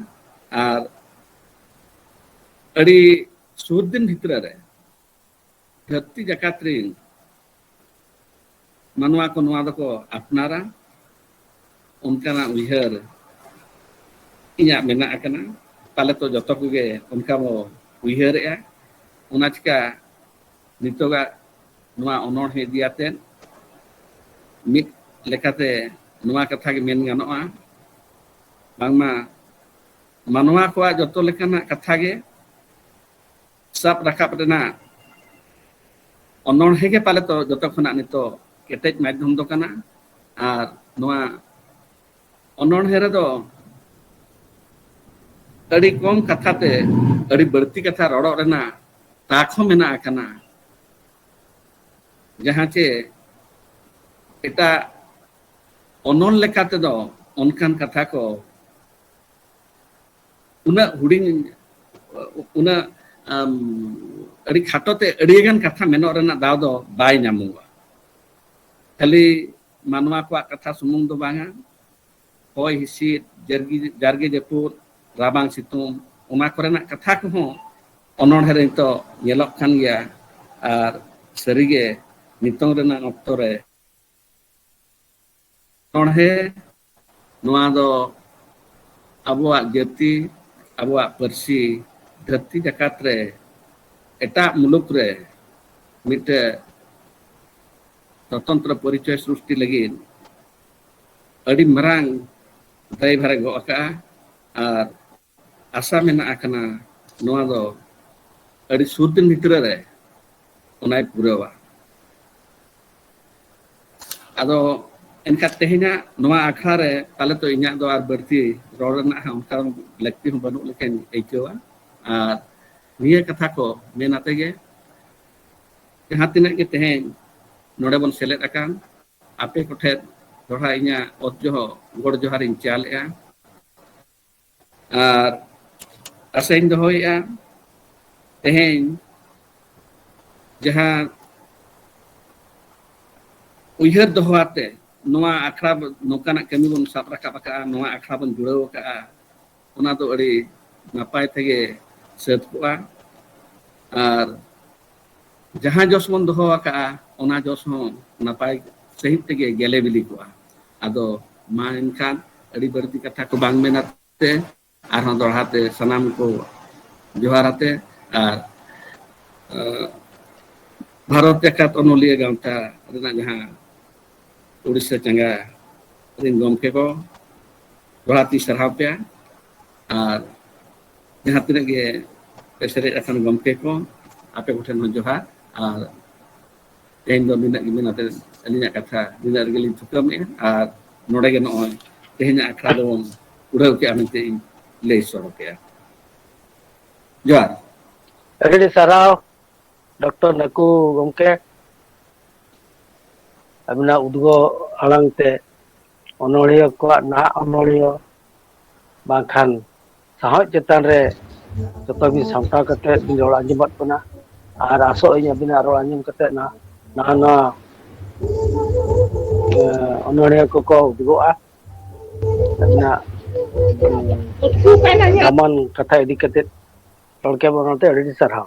Speaker 3: ᱟᱨ ᱟᱹᱰᱤ ᱥᱩᱨ ᱫᱤᱱ ᱵᱷᱤᱛᱨᱤ ᱨᱮ ᱫᱷᱟᱹᱨᱛᱤ ᱡᱟᱠᱟᱛ ᱨᱤᱱ ᱢᱟᱱᱣᱟ ᱠᱚ ᱱᱚᱣᱟ ᱫᱚᱠᱚ ᱟᱯᱱᱟᱨᱟ ᱚᱱᱠᱟᱱᱟᱜ ᱩᱭᱦᱟᱹᱨ ᱤᱧᱟᱹᱜ ᱢᱮᱱᱟᱜ ᱟᱠᱟᱱᱟ ᱛᱟᱦᱞᱮ ᱛᱚ ᱡᱚᱛᱚ ᱠᱚᱜᱮ ᱚᱱᱠᱟ ᱵᱚ ᱩᱭᱦᱟᱹᱨᱮᱜᱼᱟ ᱚᱱᱟ ᱪᱤᱠᱟ ᱱᱤᱛᱚᱜᱟᱜ ᱱᱚᱣᱟ ᱚᱱᱚᱬᱦᱮ ᱤᱫᱤ ᱟᱛᱮᱫ ᱢᱤᱫ ᱞᱮᱠᱟᱛᱮ ᱱᱚᱣᱟ ᱠᱟᱛᱷᱟ ᱜᱮ ᱢᱮᱱ ᱜᱟᱱᱚᱜᱼᱟ ᱵᱟᱝᱢᱟ ᱢᱟᱱᱣᱟ ᱠᱚᱣᱟᱜ ᱡᱚᱛᱚ ᱞᱮᱠᱟᱱᱟᱜ ᱠᱟᱛᱷᱟ ᱜᱮ ᱥᱟᱵ ᱨᱟᱠᱟᱵ ᱨᱮᱱᱟᱜ ᱚᱱᱚᱬᱦᱮ ᱜᱮ ᱯᱟᱞᱮ ᱛᱚ ᱡᱚᱛᱚ ᱠᱷᱚᱱᱟᱜ ᱱᱤᱛᱚᱜ ᱠᱮᱴᱮᱡ ᱢᱟᱫᱽᱫᱷᱚᱢ ᱫᱚ ᱠᱟᱱᱟ ᱟᱨ ᱱᱚᱣᱟ ᱚᱱᱚᱬᱦᱮ ᱨᱮᱫᱚ ᱟᱹᱰᱤ ᱠᱚᱢ ᱠᱟᱛᱷᱟ ᱛᱮ ᱟᱹᱰᱤ ᱵᱟᱹᱲᱛᱤ ᱠᱟᱛᱷᱟ ᱨᱚᱲᱚᱜ ᱨᱮᱱᱟᱜ ᱛᱟᱠ ᱦᱚᱸ ᱢᱮᱱᱟᱜ ᱟᱠᱟᱱᱟ ᱡᱟᱦᱟᱸ ᱪᱮ ᱮᱴᱟᱜ ᱚᱱᱚᱞ ᱞᱮᱠᱟ ᱛᱮᱫᱚ ᱚᱱᱠᱟᱱ ᱠᱟᱛᱷᱟ ᱠᱚ ᱩᱱᱟᱹᱜ ᱦᱩᱰᱤᱧ ᱩᱱᱟᱹᱜ ᱟᱹᱰᱤ ᱠᱷᱟᱴᱚ ᱛᱮ ᱟᱹᱰᱤᱜᱟᱱ ᱠᱟᱛᱷᱟ ᱢᱮᱱᱚᱜ ᱨᱮᱱᱟᱜ ᱫᱟᱣ ᱫᱚ ᱵᱟᱭ ᱧᱟᱢᱚᱜᱼᱟ ᱠᱷᱟᱹᱞᱤ ᱢᱟᱱᱣᱟ ᱠᱚᱣᱟᱜ ᱠᱟᱛᱷᱟ ᱥᱩᱢᱩᱝ ᱫᱚ ᱵᱟᱝᱟ ᱦᱚᱭ ᱦᱤᱥᱤᱫ ᱡᱟᱨᱜᱤ ᱡᱟᱨᱜᱮ ᱡᱟᱹᱯᱩᱫ ᱨᱟᱵᱟᱝ ᱥᱤᱛᱩᱝ ᱚᱱᱟ ᱠᱚᱨᱮᱱᱟᱜ ᱠᱟᱛᱷᱟ ᱠᱚᱦᱚᱸ ᱚᱱᱚᱬᱦᱮ ᱨᱮ ᱱᱤᱛᱚᱜ ᱧᱮᱞᱚᱜ ᱠᱟᱱ ᱜᱮᱭᱟ ᱟᱨ ᱥᱟᱹᱨᱤᱜᱮ ᱱᱤᱛᱚᱝ ᱨᱮᱱᱟᱜ ᱚᱠᱛᱚ ᱨᱮ ᱚᱬᱦᱮ ᱱᱚᱣᱟ ᱫᱚ ᱟᱵᱚᱣᱟᱜ ᱡᱟᱹᱛᱤ ᱟᱵᱚᱣᱟᱜ ᱯᱟᱹᱨᱥᱤ ᱫᱷᱟᱹᱨᱛᱤ ᱡᱟᱠᱟᱛ ᱨᱮ ᱮᱴᱟᱜ ᱢᱩᱞᱩᱠ ᱨᱮ ᱢᱤᱫᱴᱮ ᱥᱚᱛᱚᱱᱛᱨᱚ ᱯᱚᱨᱤᱪᱚᱭ ᱥᱨᱩᱥᱴᱤ ᱞᱟᱹᱜᱤᱫ ᱟᱹᱰᱤ ᱢᱟᱨᱟᱝ ᱫᱟᱭᱵᱷᱟᱨᱮ ᱜᱚᱜ ᱟᱠᱟᱜᱼᱟ ᱟᱨ ᱟᱥᱟ ᱢᱮᱱᱟᱜ ᱟᱠᱟᱱᱟ ᱱᱚᱣᱟ ᱫᱚ ᱟᱹᱰᱤ ᱥᱩᱨ ᱫᱤᱱ ᱵᱷᱤᱛᱨᱤ ᱨᱮ ᱚᱱᱟᱭ ᱯᱩᱨᱟᱹᱣᱟ ᱟᱫᱚ ᱮᱱᱠᱷᱟᱱ ᱛᱮᱦᱮᱧᱟᱜ ᱱᱚᱣᱟ ᱟᱠᱷᱲᱟ ᱨᱮ ᱛᱟᱦᱞᱮ ᱛᱚ ᱤᱧᱟᱹᱜ ᱫᱚ ᱟᱨ ᱵᱟᱹᱲᱛᱤ ᱨᱚᱲ ᱨᱮᱱᱟᱜ ᱦᱚᱸ ᱚᱱᱠᱟ ᱞᱟᱹᱠᱛᱤ ᱦᱚᱸ ᱵᱟᱹᱱᱩᱜ ᱞᱮᱠᱟᱧ ᱟᱹᱭᱠᱟᱹᱣᱟ ᱟᱨ ᱱᱤᱭᱟᱹ ᱠᱟᱛᱷᱟ ᱠᱚ ᱢᱮᱱ ᱟᱛᱮ ᱜᱮ ᱡᱟᱦᱟᱸ ᱛᱤᱱᱟᱹᱜ ᱜᱮ ᱛᱮᱦᱮᱧ ᱱᱚᱰᱮ ᱵᱚᱱ ᱥᱮᱞᱮᱫ ᱟᱠᱟᱱ ᱟᱯᱮ ᱠᱚᱴᱷᱮᱱ ᱫᱚᱲᱦᱟ ᱤᱧᱟᱹᱜ ᱚᱛ ᱡᱚᱦᱚᱜ ᱜᱚᱰ ᱡᱚᱦᱟᱨᱤᱧ ᱪᱟᱞᱮᱜᱼᱟ ᱟᱨ ᱟᱥᱟᱧ ᱫᱚᱦᱚᱭᱮᱫᱼᱟ ᱛᱮᱦᱮᱧ ᱡᱟᱦᱟᱸ ᱩᱭᱦᱟᱹᱨ ᱫᱚᱦᱚ ᱟᱛᱮ ᱱᱚᱣᱟ ᱟᱠᱷᱲᱟ ᱱᱚᱝᱠᱟᱱᱟᱜ ᱠᱟᱹᱢᱤ ᱵᱚᱱ ᱥᱟᱵ ᱨᱟᱠᱟᱵ ᱟᱠᱟᱫᱼᱟ ᱱᱚᱣᱟ ᱟᱠᱷᱲᱟ ᱵᱚᱱ ᱡᱩᱲᱟᱹᱣ ᱟᱠᱟᱫᱼᱟ ᱚᱱᱟ ᱫᱚ ᱟᱹᱰᱤ ᱱᱟᱯᱟᱭ ᱛᱮᱜᱮ ᱥᱟᱹᱛ ᱠᱚᱜᱼᱟ ᱟᱨ ᱡᱟᱦᱟᱸ ᱡᱚᱥ ᱵᱚᱱ ᱫᱚᱦᱚ ᱟᱠᱟᱜᱼᱟ ᱚᱱᱟ ᱡᱚᱥ ᱦᱚᱸ ᱱᱟᱯᱟᱭ ᱥᱟᱺᱦᱤᱡ ᱛᱮᱜᱮ ᱜᱮᱞᱮ ᱵᱤᱞᱤ ᱠᱚᱜᱼᱟ ᱟᱫᱚ ᱢᱟ ᱮᱱᱠᱷᱟᱱ ᱟᱹᱰᱤ ᱵᱟᱹᱲᱛᱤ ᱠᱟᱛᱷᱟ ᱠᱚ ᱵᱟᱝ ᱢᱮᱱ ᱟᱛᱮ ᱟᱨᱦᱚᱸ ᱫᱚᱲᱦᱟ ᱛᱮ ᱥᱟᱱᱟᱢ ᱠᱚ ᱡᱚᱦᱟᱨ ᱟᱛᱮ ᱟᱨ ᱵᱷᱟᱨᱚᱛ ᱡᱟᱠᱟᱛ ᱚᱱᱚᱞᱤᱭᱟᱹ ᱜᱟᱶᱛᱟ ᱨᱮᱱᱟᱜ ᱡᱟᱦᱟᱸ ᱩᱲᱤᱥᱥᱟ ᱪᱟᱸᱜᱟ ᱨᱮᱱ ᱜᱚᱢᱠᱮ ᱠᱚ ᱫᱚᱲᱦᱟ ᱛᱤᱧ ᱥᱟᱨᱦᱟᱣ ᱯᱮᱭᱟ ᱟᱨ ᱡᱟᱦᱟᱸ ᱛᱤᱱᱟᱹᱜ ᱜᱮ ᱯᱮ ᱥᱮᱞᱮᱫ ᱟᱠᱟᱱ ᱜᱚᱢᱠᱮ ᱠᱚ ᱟᱯᱮ ᱠᱚᱴᱷᱮᱱ ᱦᱚᱸ ᱡᱚᱦᱟᱨ ᱟᱨ ᱛᱮᱦᱮᱧ ᱫᱚ ᱱᱤᱱᱟᱹᱜ ᱜᱮ ᱢᱮᱱ ᱟᱛᱮ ᱟᱹᱞᱤᱧᱟᱜ ᱠᱟᱛᱷᱟ ᱱᱤᱱᱟᱹᱜ ᱨᱮᱜᱮ ᱞᱤᱧ ᱛᱷᱩᱠᱟᱹᱢᱮᱜᱼᱟ ᱟᱨ ᱱᱚᱰᱮ ᱜᱮ ᱱᱚᱜᱼᱚᱭ ᱛᱮᱦᱮᱧᱟᱜ ᱟᱠᱷᱲᱟ ᱫᱚᱵᱚᱱ ᱩᱰᱟᱹᱣ ᱠᱮᱜᱼᱟ ᱢᱮᱱᱛᱮ ᱤᱧ ᱞᱟᱹᱭ ᱥᱚᱫᱚᱨ ᱠᱮᱜᱼᱟ ᱡᱚᱦᱟᱨ
Speaker 2: ᱟᱹᱰᱤ ᱟᱹᱰᱤ ᱥᱟᱨᱦᱟᱣ ᱰᱚᱠᱴᱚᱨ ᱱᱟᱹᱠᱩ ᱜᱚᱢᱠᱮ ᱟᱵᱤᱱᱟᱜ ᱩᱫᱽᱜᱟᱹᱣ ᱟᱲᱟᱝ ᱛᱮ ᱚᱱᱚᱲᱦᱤᱭᱟᱹ ᱠᱚᱣᱟᱜ ᱱᱟᱦᱟᱜ ᱚᱱᱚᱲᱦᱤᱭᱟᱹ ᱵᱟᱝᱠᱷᱟᱱ ᱥᱟᱶᱦᱮᱫ ᱪᱮᱛᱟᱱ ᱨᱮ ᱡᱚᱛᱚ ᱜᱮ ᱥᱟᱢᱴᱟᱣ ᱠᱟᱛᱮᱫ ᱵᱤᱱ ᱨᱚᱲ ᱟᱸᱡᱚᱢᱟᱫ ᱵᱚᱱᱟ ᱟᱨ ᱟᱥᱚᱜ ᱟᱹᱧ ᱟᱹᱵᱤᱱᱟᱜ ᱨᱚᱲ ᱟᱸᱡᱚᱢ ᱠᱟᱛᱮᱫ ᱱᱟᱜ ᱱᱟᱣᱟ ᱱᱟᱣᱟ ᱚᱱᱚᱲᱦᱤᱭᱟᱹ ᱠᱚᱠᱚ ᱩᱰᱩᱠᱚᱜᱼᱟ ᱟᱹᱵᱤᱱᱟᱜ ᱫᱟᱢᱟᱱ ᱠᱟᱛᱷᱟ ᱤᱫᱤ ᱠᱟᱛᱮᱫ ᱨᱚᱲ ᱠᱮᱫ ᱵᱚᱱ ᱚᱱᱟᱛᱮ ᱟᱹᱰᱤ ᱟᱹᱰᱤ ᱥᱟᱨᱦᱟᱣ